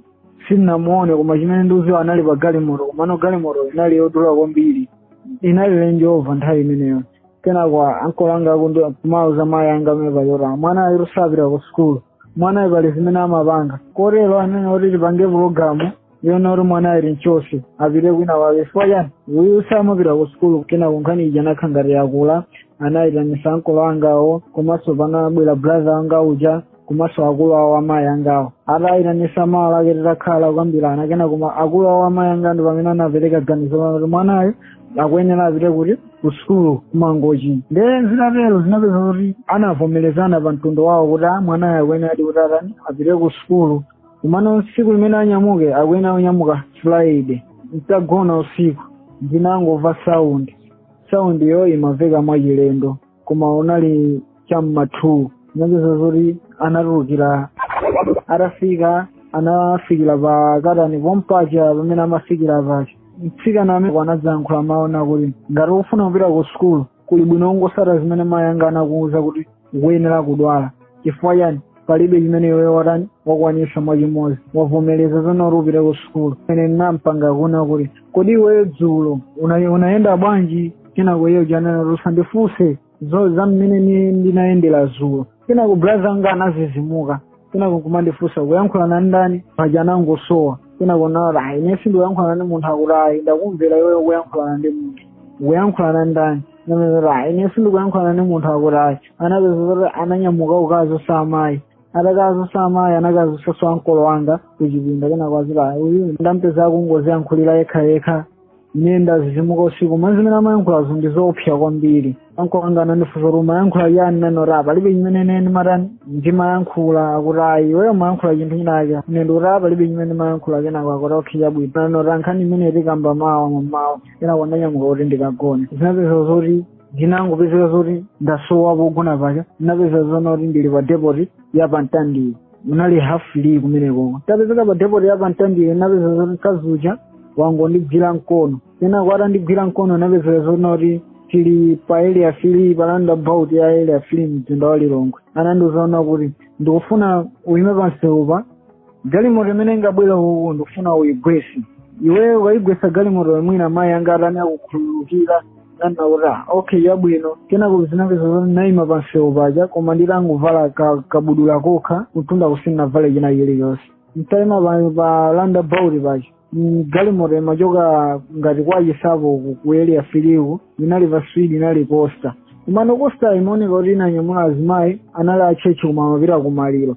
sindinamuone koma chimene ndikudziwa anali pa galimoto komano galimoto inali yodula kwambiri inali lenjova nthawi imeneyo kenako ankolo anga kumauza mayi anga mmene paja kuti mwana uyutu sapita ku sukulu mwana uyu pali zimene amapanga kotero anene kuti tipange pulogalamu yoona kuti mwana uyu timchotse apite kwina kwake chifukwa chani uyu samapita ku sukulu kenako nkhani ija inakhala ngati yakula anayitanisa ankolo angawo komanso panabwera brother anga uja komanso akulu awo amayi angawo atayitanisa mawa lake titakhala kukambirana kenako akulu awo amayi anga ndi pamene anapereka ganizo lonena kuti mwanayo akuyenera apite kuti ku sukulu kumangochi nde zitatero zinapeza kuti anavomerezana pa mtundu wawo kuti a mwanayo akuyeneradi kuti atani apite ku sukulu komano tsiku limene anyamuke akuyenera kunyamuka friday mtagona usiku ndinangomva saundi saundiyo imamveka mwachilendo koma unali cha m'ma 2 zinapezeka zoti anatulukira atafika anafikira pa katani pompaja pamene amafikira paja mtsikana amene anadzayankhula mawu onena kuti ngati ukufuna kupita ku sukulu kuli bwino ungotsata zimene mayi anga anakuwuza kuti ukuyenera kudwala chifukwa chani palibe chimene iweyo watani wakwanisa mwachimozi wavomereza zonena kuti upite ku sukulu ine ndinampanga kunena kuti kodi iweyo dzulo una- unayenda bwanji kenako iye uja ananena usandifunse za mmene ni- ndinayendera dzulo kenako braza anga anazizimuka kenako kumandifunsa ukuyankhulana ndani paja anangosowa kenako nati ayi ine sindikuyankhulana ndi munthu akuti ayi ndakumvera iweyo ukuyankhulana ndi munthu ukuyankhulana ndani anapezeka ayi ine sindikuyankhulana ndi munthu akutayo anapezeka kuti ananyamuka kukadzutsa amayi atakadzutsa amayi anakadzutsaso ankolo wanga kuchipinda kenako adzati ayi uyu ndampeza akungoziyankhulira yekha yekha ine ndadzidzimuka usiku mwa zimene amayankhulazo ndi zoopsa kwambiri ankolo wanga anandifunsa kuti umayankhula chani ndinanena palibe chimene ine ndimatani ndimayankhula akuti ayi iweyo umayankhula chinthu chinachake ine ndikuti palibe chimene ndimayankhula kenako akuti okay chabwino nkhani imeneyi tikamba mawa mamawa kenako ndanyamuka kuti ndikagone zinapezeka zoti ndinangopezeka zoti ndasowa pogona paja ndinapezeka zoona kuti ndili pa depoti ya pamtandire munali half three kumenekoko tapezeka pa depoti ya pamtandire zinapezeka zoti mkazi uja wangondigwira mkono kenako atandigwira mkono ndinapezeka zoona kuti tili pa area three paroundabout ya area three mzinda wa lilongwe anandiuza kuti ndikufuna uyime pamsewu pa galimoto imene ingabwere uku ndikufuna uyigwese iweyo ukayigwesa galimoto mwina mayi anga atani akukhululukira ndinati okay chabwino kenako zinapezeka zoti ndaima pamsewu paja koma nditangovala ka- kabudula kokha kumtunda sindinavale china chilichonse nditaima pa- pa roundabout paja Mm, galimoto imachoka ngati kwachinsapo ku- ku area three uku inali pa speed inali coaster komano coaster imaoneka kuti inanyamula azimayi anali atchetchi koma amapita kumaliro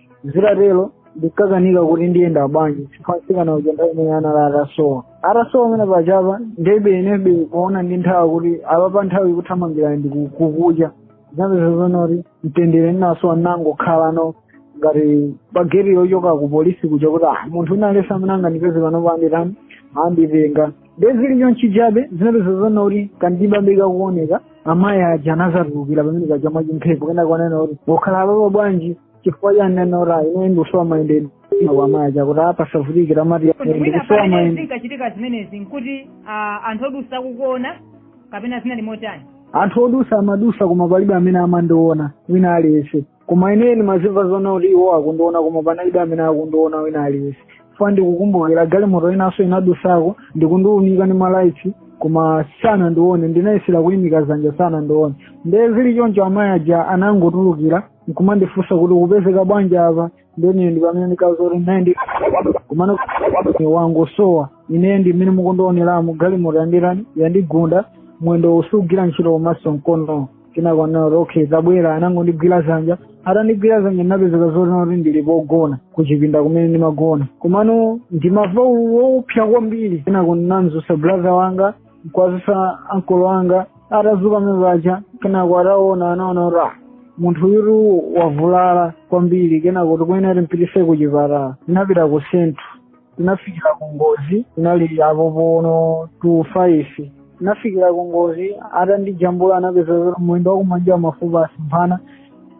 zitatero ndikakanika kuti ndiyenda bwanji chifukwa mtsikana uja nthawi imene ija anali atasowa atasowa amene pajapa ndiyebe inebe kuona ndi nthawi kuti apa pa nthawi ikuthamangirani ndikukucha zapezeka zoona kuti mtendere ndinasowa ndinangokhalano ngati pagate yochoka ku polisi kuja kuti ah munthu wina aliyense amene angandipeze pano anditani anditenga nde zili chonchi chabe zinapezeka zoona kuti kwandibalika kuoneka amayi aja anadzatulukira pamene paja mwachimphepo kenako kunena kuti ukukhala apapa bwanji chifukwa chani ndinanena kuti ineyo ndikusowa mayendedwe amayi aja akuti apasavutikira mati Kuti mwina ndikusowa pamene mayendedwe zinkachitika zimenezi nkuti ah, anthu odutsa akukuona kapena zinali motani anthu odutsa amadutsa koma palibe amene amandiona wina aliyense koma ine ndimazimva zoona kuti iwo akundiona koma panalibe amene akundiona wina aliyense chifukwa ndikukumbukira galimoto inanso inadutsako ndikundiunika ndi malaitsi koma sanandione ndinayesera kuyimika zanja sanandione nde zili choncho amayi aja anangotulukira nkumandifunsa kuti ukupezeka bwanji apa nde ineyo ndipamene ndikadzati ndayenda komano wangosowa ineyo ndi mmene mukundioneramu galimoto yanditani yandigunda mwendo sukugwira ntchito komanso mkono kenako anati okay tabwera anangondigwira zanja atandigwira zanja ndinapezeka zoona kuti ndili pogona kuchipinda kumene ndimagona komano ndimamva ululu woopsa kwambiri kenako ndinamdzutsa brother wanga nkuwadzutsa ankolo anga atadzuka mmene paja kenako ataona anaona kuti ah munthu uyu wavulala kwambiri kenako tikuyenera timpititse ku chipatala tinapita ku sentulo tinafikira ku ngozi tinali apo pono two five tinafikira ku ngozi atandijambula anapeza kuti mwendo wakumanjawu mafupa asemphana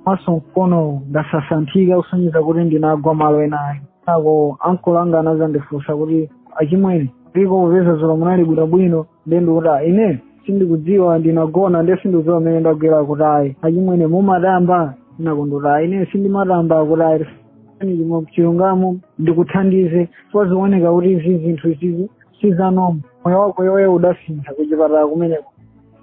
komanso mkono unasasanthika kusonyeza kuti ndinagwa malo enayo kenako ankolo anga anadzandifunsa kuti achimwene ndipo popeza dzulo munali bwinobwino ndiye ndikuti "Ah, ine sindikudziwa ndinagona ndiye sindikudziwa mmene ndagwera kuti ayi achimwene mumatamba ndinakana kuti ayi ine sindimatamba kuti ayi Ani chimwe chilungamo ndikuthandize zikuoneka kuti izi zinthu izizi sizanoma moyo wako iweyo udasintha kuchipatala kumeneko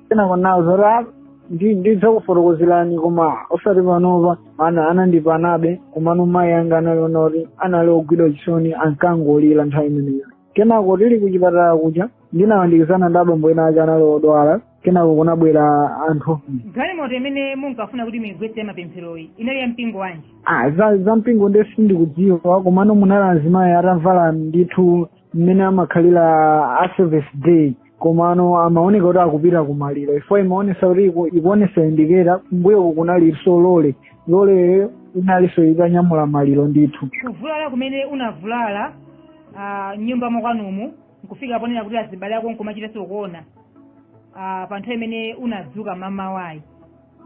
kenako ndinawauza kuti ndidzakufotokozerani koma osati panopa ana anandipanabe komano mayi anga analinso naye kuti anali ogwidwa chisoni ankangolira nthawi imeneyo kenako tili kuchipatala kuja ndinawandikizana ndi abambo ena ake anali odwala kenako kunabwera anthu galimoto imene munkafuna kuti muyigwetse ya mapempheroyi inali ya mpingo wanji Ah, za za mpingo nde sindikudziwa komano munali azimayi atavala ndithu mmene amakhalira a service day komano amaoneka kuti akupita kumaliro chifukwa imaonesa kuti iku- ikuonesa indiketa kumbuyoku kunalinso lole loleyo inalinso itanyamula maliro ndithu kuvulala kumene unavulala ah, mnyumba mwakwanumu nkufika ponena kuti azibale ako nkumachitanso kuona ah, pa nthawi imene unadzuka mmamawayi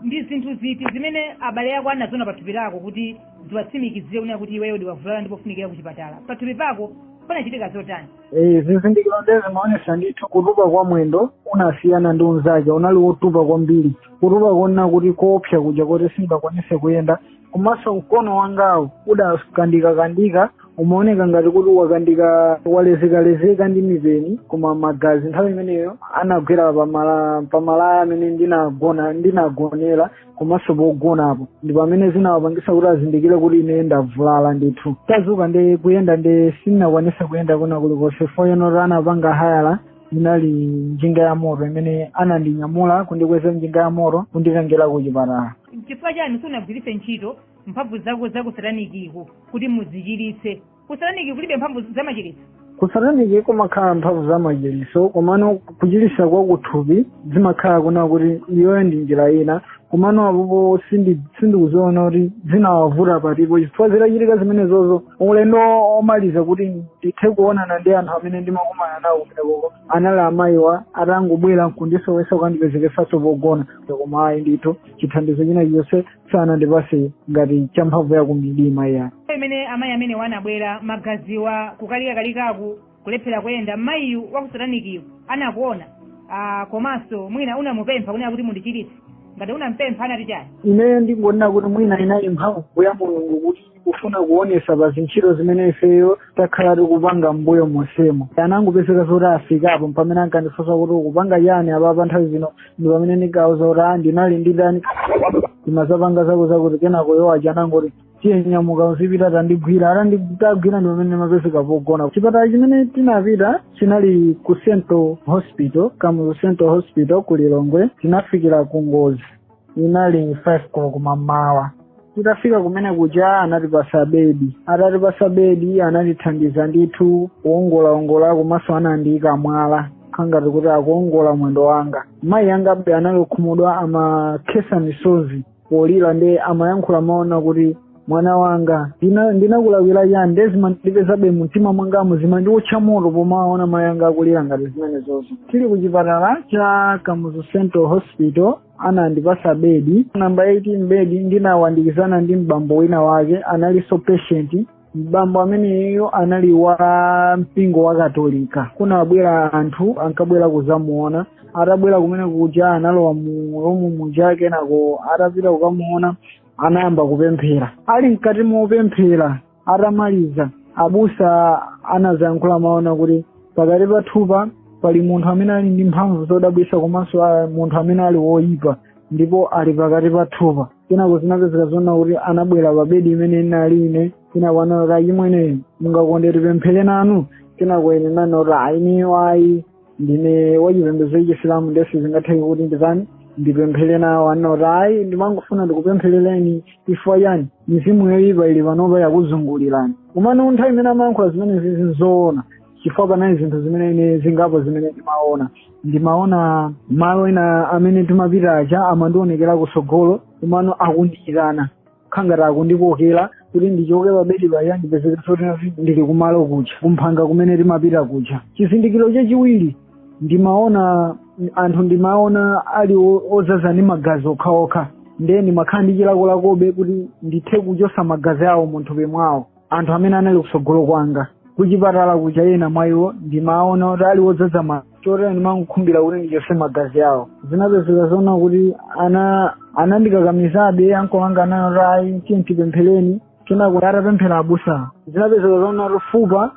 ndi zinthu ziti zimene abale ako anaziona pathupi lako kuti ziwatsimikizire kunena kuti iweyo udavulala ndipo ukufunikira kuchipatala pathupi pako panachitika zotani Eh, zizindikiro nde zimaonesa ndithu kutupa kwa mwendo unasiyana ndi unzake unali wotupa kwambiri kutupa konena kuti koopsa kuja kuti singakwanise kuyenda komanso mkono wangawo udakandikakandika umaoneka ngati kuti wakandika walezekalezeka ndi mipeni koma magazi nthawi imeneyo anagwera pamala pamalaya amene ndinagona ndinagonera komanso pogonapo ndi pamene zinawapangitsa kuti azindikire kuti ine ndavulala ndithu kudzuka ndi kuyenda nde sindinakwanitse kuyenda kwina kulikonse chifukwa eno kuti anapanga hayala inali njinga ya moto imene anandinyamula kundikweza njinga ya moto kunditengera ku chipatala nchifukwa chani sunagwiritse ntchito mphamvu zako za kusatanikiko kuti muzichiritse kusataniki kulibe mphamvu za machiritso kusataniki kumakhala mphamvu za machiritso komano kuchiritsa kwa kuthupi zimakhala kunena kuti iyoyo ndi njira ina komano apopo sindi- sindikuziona kuti zinawavuta patipo chifukwa zitachitika zimenezozo ulendo womaliza kuti ndithe kuonana ndi anthu amene ndimakumana nawo kumenekoko anali amayiwa atangobwera nkundinso wesa kuandipezekesanso pogona koma ayi ndithu chithandizo china chonse sanandipase ngati cha mphamvu ya kumidima iyayi pamene amayi amenewa anabwera magaziwa kukalikakalikaku kulephera kuyenda mmayiyu wakusatanikiyu anakuona ah, komanso mwina unamupempha kunena kuti mundichiritse ngati unampempha anati chani ineyo ndingonena kuti mwina inali mphamvu ya mulungu kuti kufuna kuonesa pa zintchito zimene ifeyo takhala tikupanga mbuyo monsemo anangopezeka zoti afikapo pamene ankandifunsa kuti ukupanga chani apapa nthawi ino ndi pamene ndikauza kuti a ndinali ndi dani ndimazapanga zako zakuti kenako iwo aja anangoti tiye nyamuka uzipita atandigwira atandigwira ndi pamene ndimapezeka pogona chipatala chimene tinapita chinali ku central hospital kamuzu central hospital ku lilongwe tinafikira ku ngozi inali 5 koloko mamawa titafika kumene kuja anatipasa bedi atatipasa bedi anatithandiza ndithu kuongolaongola komanso anandiyika mwala khangati kuti akuwongola mwendo wanga mayi anga be anali okhumudwa amakhesa misozi polira nde amayankhula mawu ona kuti mwana wanga ndina- ndinakulakwira chani nde zimandipezabe mumtima mwangamu zimandiwotcha moto pomaona mayi anga akulira ngati zimenezozo tili ku chipatala cha kamuzu central hospital anandipasa bedi namba 18 bedi ndinayandikizana ndi mbambo wina wake analinso patient mbambo ameneyo anali wa mpingo wa katolika kunabwera anthu ankabwera kuzamuona atabwera kumene kuja analowa mu romu muja kenako atapita kukamuona anayamba kupemphera ali mkati mopemphera atamaliza abusa anazayankhula mawu ona kuti pakati pathupa pali munthu amene ali ndi mphamvu zodabwisa komanso ah, munthu amene ali woyipa ndipo ali pakati pathupa kenako zinapezeka zona kuti anabwera pa bedi imene inali ine kenako anati achimwene mungakonde tipemphere nanu kenako ine ndinati a ineyo ayi ndine wachipembedzo chachisilamu nde sizingatheke kuti nditani ndipemphere nawo anati ayi ndimafuna ndikupempherereni chifukwa chani mizimu yoyipa ili panopa yakuzungulirani kumano nthawi imene amayankhula zimenezi nzoona chifukwa panali zinthu zimene ine zingapo zimene ndimaona ndimaona malo ena amene timapita aja amandionekera kusogolo kumaona akundiyitana khangati akundikokera kuti ndichoke pabedi paja ndipezekenso kuti ndili kumalo kuja kumphanga kumene timapita kuja chizindikiro chachiwiri ndimaona anthu ndimaona ali o- ozaza ndi magazi okhaokha ndiye ndimakhala ndi chilakolako kuti ndithe kuchosa magazi awo munthupi mwawo anthu amene anali kutsogolo kwanga kuchipatala kuja ena mwa iwo ndimaona kuti ali wodzadza mano choti ndimangokhumbira kuti ndichotse magazi awo zinapezeka zoona kuti ana anandikakamizabe ankolo anga anali kuti ayi tiye timpempherere kenako atapemphera abusa zinapezeka zoona kuti fupa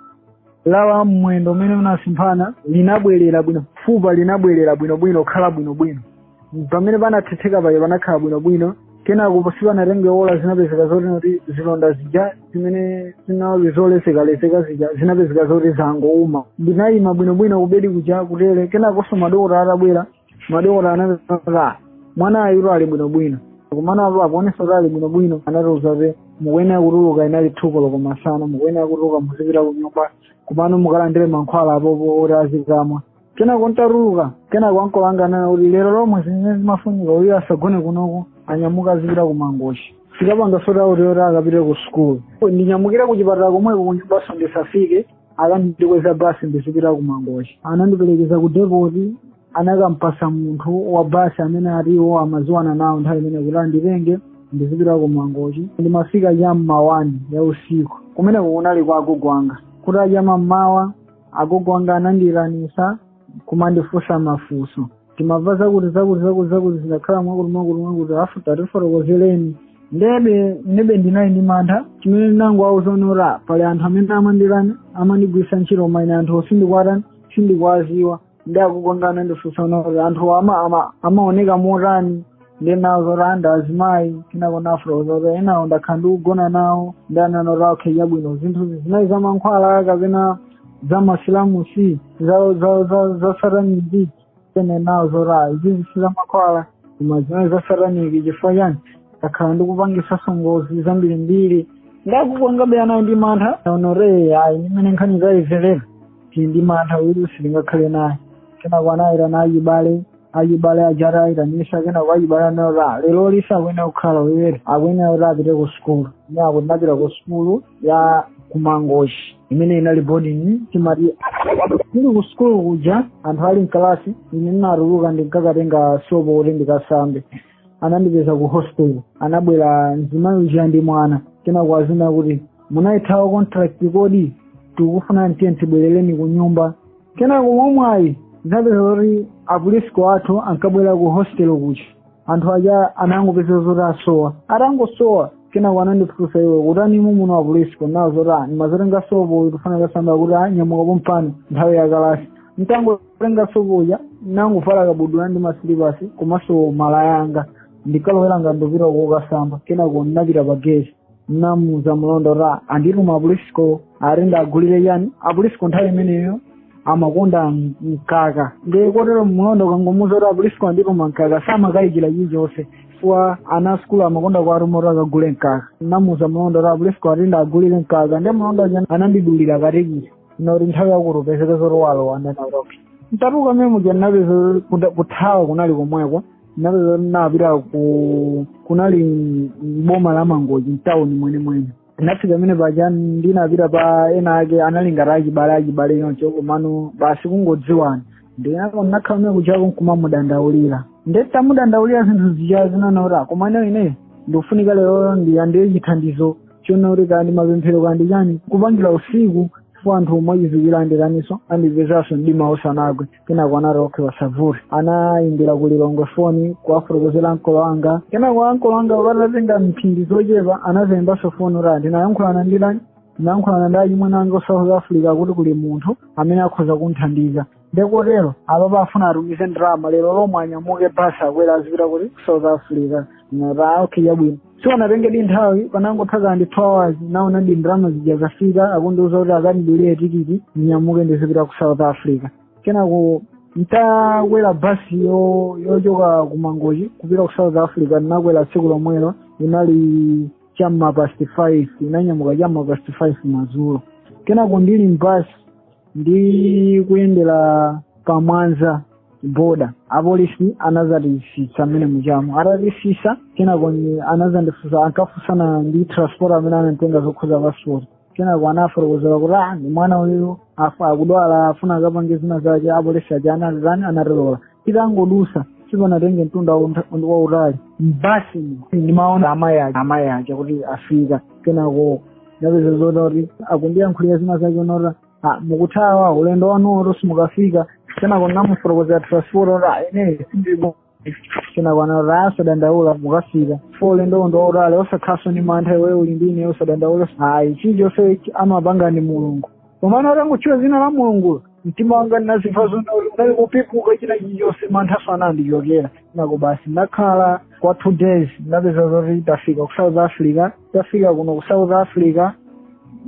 lawa mmwendo umene unasemphana linabwerera bwino fupa linabwerera bwinobwino kukhala bwinobwino pamene panathetheka paja panakhala bwinobwino kenako sipanatenge ola zinapezeka zoti noti zilonda zija zimene zinali zolesekaleseka zija zinapezeka zoti zangouma ndinayima bwinobwino kubedi kuja kutere kenakonso madokota atabwera madokota anapezeka mwanayu ali bwinobwino komano apo akuonesa kuti ali bwinobwino anatiuza kuti mukuyenera kutuluka inali thu koloko masana mukuyenera kutuluka muzipita kunyumba komano mukalandire mankhwala apopo oti azikamwa kenako ntatuluka kenako ankolo anga anena kuti lero lomwe zimene zimafunika uyo asagone kunoko anyamuke azipita ku mangochi tikapange sotauti yoti akapite ku sukulu ndinyamukire ku chipatala komweko kunyumbaso ndisafike akandikweze basi ndizipita ku mangochi anandiperekeza ku depot anakampasa munthu wa basi amene ati iwo amaziwana nawo nthawi imene kuti anditenge ndizipita ku mangochi ndimafika cha mma wani ya usiku kumeneko kunali kwa agogo anga kuti kutacha mammawa agogo anga anandifunsa kumandifunsa mafunso timamva zakuti zakuti zakuti zakuti zindakhala mwakuti mwakuti mwakuti afu tatifotokozeleni ndiye ine ndinali ndi mantha chimene ndinangowauza zoona pali anthu amene amanditani amandigwiritsa ntchito koma ine anthu sindikuwatani sindikuwaziwa ndi akukongana anandifunsano kuti anthu ake ama amaoneka motani nde ndinawauza kuti ndi azimayi kenako ndinafotokoza kuti enawo ndakhala ndikugona nawo nde ananena kuti awo mwina zinthu zizi nayi za mankhwala kapena za masilamusi za za za za sataniki ine ndinawauza kuti izi si za mankhwala koma zimenezi za sataniki chifukwa chani takhala ndikupangisanso ngozi zambirimbiri nde akukongabe anali ndi mantha anati ayi ndi mmene nkhani tayimvera tili ndi mantha uyu sitingakhale naye kenako anayitana ayibale ayibale aja atayitanisa kenako ayibale anati lero lisa akuyenera kukhala uyu akuyenera kuti apite ku sukulu ine akuti ndapita ku sukulu ya kumangochi imene inali boarding timati tili ku sukulu kuja anthu ali mkalasi ine ndinatuluka ndinkakatenga sopo kuti ndikasambe anandipeza ku hostel anabwera mzimayi uja ndi mwana kenako adzanena kuti munayithawa contract kodi tikufuna tiye tibwerere ku nyumba kenako mwamwayi zinapezeka kuti a priest athu ankabwera ku hostel kuja anthu aja anangopezeka zoti asowa atangosowa kenako anandifunsa iwe ukutani muno a priest kuwauza zoti ah, ndimazatenga sopo ndikufuna ndikasambe kuti ah, nyamuka pompano nthawi ya kalasi ntangotenga sopo uja nangovala kabudula ndi masilipasi komanso malaya anga ndikalowera ngati ndikupita kokasamba kenako ndinapita pa geti namuuza mlonda uja andituma apolisiwo atenda agulire yani apolisiwo nthawi imeneyo amakonda mkaka ndiye kotero mlonda ukangomuuza kuti apolisiwo andituma mkaka samakayikira chilichonse chifukwa ana asukulu amakonda kuwatuma kuti akagule mkaka namuuza mlonda uja apolisiwo ati ndiwagulire mkaka ndiye mlonda uja anandidulira katikiti koti nthawi yakuti upezeke zoti walowa ndanakuti mtatuka memu ndinapeza kuthawa kunali komweko nazo napita ku kunali mboma la mangochi mtawuni mwenimweni ndinafika pamene paja ndinapita kwa ena ake anali ngati achibale achibale choncho komano basi kungodziwana ndinaye ndinakhala mene kuchako nkumamudandaulira ndetamudandaulira zinthu zija zinaona kuti "Ah, koma ine ine ndikufunika lero ndiyandiye chithandizo choona kuti kandi mapemphero kandi chani kupangira usiku chifukwa anthu omwe achiziwira andikaniso andipezenso mdima usanagwe kenako anati okay osavuta anayimbira ku lilongwe foni kuwafotokozera ankolo anga kenako ankolo anga patatenga mphindi zochepa anadzayimbanso foni kuti ndinayankhulana ndi ndani ndinayankhulana ndi achimwene anga ku south africa kuti kuli munthu amene akhoza kunthandiza ndekotero apapa afuna atumize ndalama lero lomwe anyamuke basi akwere azipita kuti ku south africa nati okay chabwino sipanatengedi nthawi panangotha ka ngati two hours naonadi ndalama zija zafika akundiuza kuti akandidulire tikiti ndinyamuke ndizipita ku south africa kenako ntakwera basi yo- yochoka ku mangochi kupita ku south africa ndinakwera tsiku lomwelo inali chamma past five inanyamuka chamma past five madzulo kenako ndili mbasi ndi kuyendera pamwanza boda apolisi anadzatisitsa mmene mujamo atatisitsa kenako ni- anadzandifunsa ankafunsana ndi transport amene ananditenga zokhuza passport kenako anafotokozera kuti ah ndi mwana uyu uyo akudwala afuna akapange zina zake apolisi aja anatani anatilola titangodutsa sipanatenge mtunda wauntha- wautali mbasi ndimaona amayi aja amayi aja kuti afika kenako napeza zoti kuti akundiyankhula zina zake zoona kuti "Ah, mukuthawa ulendo wanu uwo simukafika kenako namufotokozera transport kuti "Ah, ine sindili bho kenako anati ah usadandaule mukafika bho ulendo uno ndi wautali osakhalanso ni mantha iwe uli ndine osadandaula ayi chilichonse amapanga ndi mulungu komano atangotchula dzina la mulungulo mtima wanga ndinazimva zoona kuti unali kupepuka china chilichonse mantha onse anandichokera kenako basi ndakhala kwa two days ndapeza zoti tafika ku south africa tafika kuno ku south africa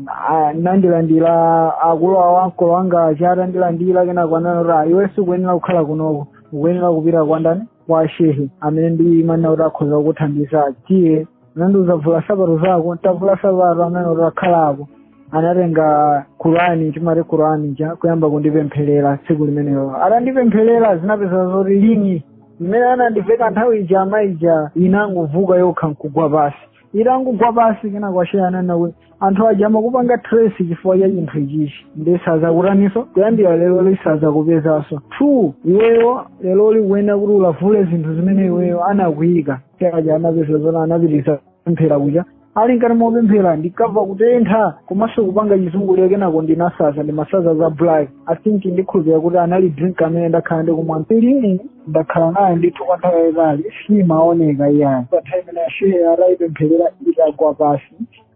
ah, anandilandira akulu awo ankolo anga aja atandilandira kenako ananena kuti "Ah, iwe sukuyenera kukhala kunoko ukuyenera kupita kwa ndani kwa shehe amene ndimanena kuti akhoza kukuthandiza tiye anandiuza vula sapato zako ntavula sapato amene utakhala apo anatenga kurani timati kurani ija kuyamba kundipempherera tsiku limenelo atandipempherera zinapezeka zoti lingi imene anandiveka nthawi ija amaija inangovuka yokha nkugwa pasi itangogwa pasi kenako ashehe ananena kuti anthu aja amakupanga trace chifukwa cha chinthu ichichi ndi sazakutaninso kuyambira lero sazakupezanso ndipo iweyo lero ukuyenera kuti ulavule zinthu zimene iweyo anakuyika aja anapeza zoona anapitiriza pemphero kuja ali nkati mopemphera ndinkamva kutentha komanso kupanga chizunguliro kenako ndinasanza ndi masanza za black i think ndikhulupira kuti anali drink amene ndakhala ndikumwa m'mpilini ndakhala naye ndithu kwa nthawi yayitali simaoneka iyayi pa time ina shehe ataipempherera itagwa pasi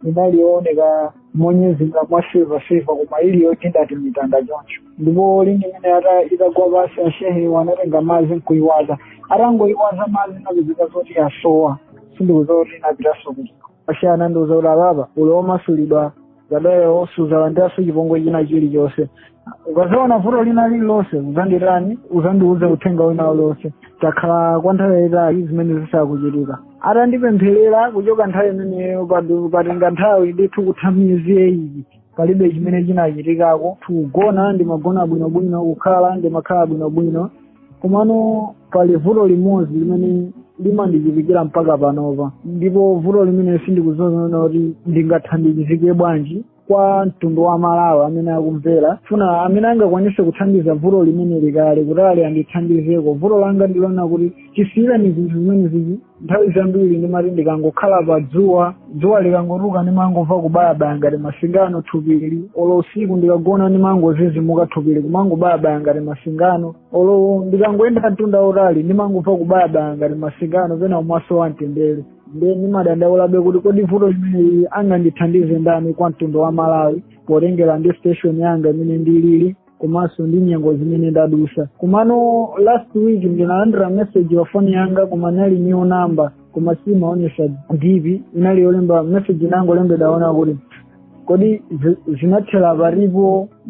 inali yooneka monyezimira mwa silva silva koma ili yokhala ngati mitanda choncho ndipo lingi imene ata itagwa pasi ashehewo anatenga madzi nkuyiwaza atangoyiwaza madzi inapezeka zoti yasowa sindikudziwa kuti inapitanso kuti ashe anandiuza kuti apapa uli omasulidwa ndiye iweyo suzalandiranso chipongwe china chilichonse ukazaona vuto lina lililonse uzandiitane uzandiuze uthenga wina uliwonse ntakhala kwa nthawi yayitali zimenezi zisakuchitika atandipempherera kuchoka nthawi imeneyo padu- patenga nthawi ndithu kutha miyezi eyiti palibe chimene chinachitikako kugona ndimagona bwinobwino kukhala ndimakhala bwinobwino komano pali vuto limodzi limene limandichitikira mpaka panopa ndipo vuto limeneli sindikuziwa kuti ndingathandizike bwanji kwa mtundu wa malawi amene akumvera ndikufuna amene angakwanise kuthandiza vuto limeneli kale kuti ati andithandizeko vuto langa ndilonena kuti chisiyireni zinthu zimenezizi nthawi zambiri ndimati ndikangokhala pa dzuwa dzuwa likangotuka ndimangomva kubayabaya ngati masingano thupili olo usiku ndikagona ndimangozizimuka thupili kumangobayabaya ngati masingano olo ndikangoyenda mtunda wautali ndimangomva kubayabaya ngati masingano pena umasowa mtendere nde ndimadandaulabe kuti kodi vuto limeneli angandithandize ndani kwa mtundu wa malawi potengera ndi situation yanga imene ndilili komanso ndi nyengo zimene ndadusa komano last week ndinalandira message pa foni yanga koma inali new number koma simaonesa dipi inali yolemba message inangolembedwa yonena kuti kodi zi- zinathera pati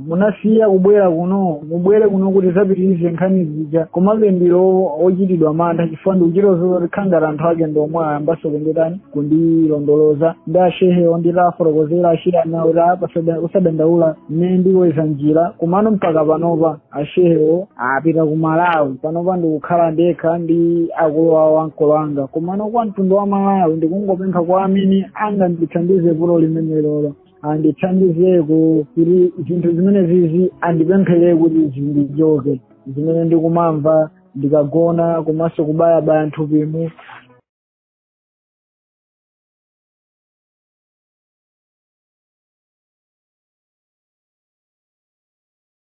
munasiya kubwera kuno mubwere kuno kuti tizapitirize nkhani zija komabe ndili ochitidwa mantha chifukwa ndikudziwa zoti kukhala ngati anthu ake ndiomwe ayambaso kunditani kundilondoloza ndi ashehewo ndita afotokozera anati apa usadandaula ine ndikupeza njira komano mpaka panopa achewo apita ku malawi panopa ndikukhala ndekha ndi akulu awo ankolo anga komano kwa mtundu wa malawi ndikungopempha kwa amene angandithandize vuto limenelolo andithandizeko kuti zinthu zimenezizi andipemphereko kuti zindichoke zimene ndikumamva ndikagona komanso kubayabaya nthupimu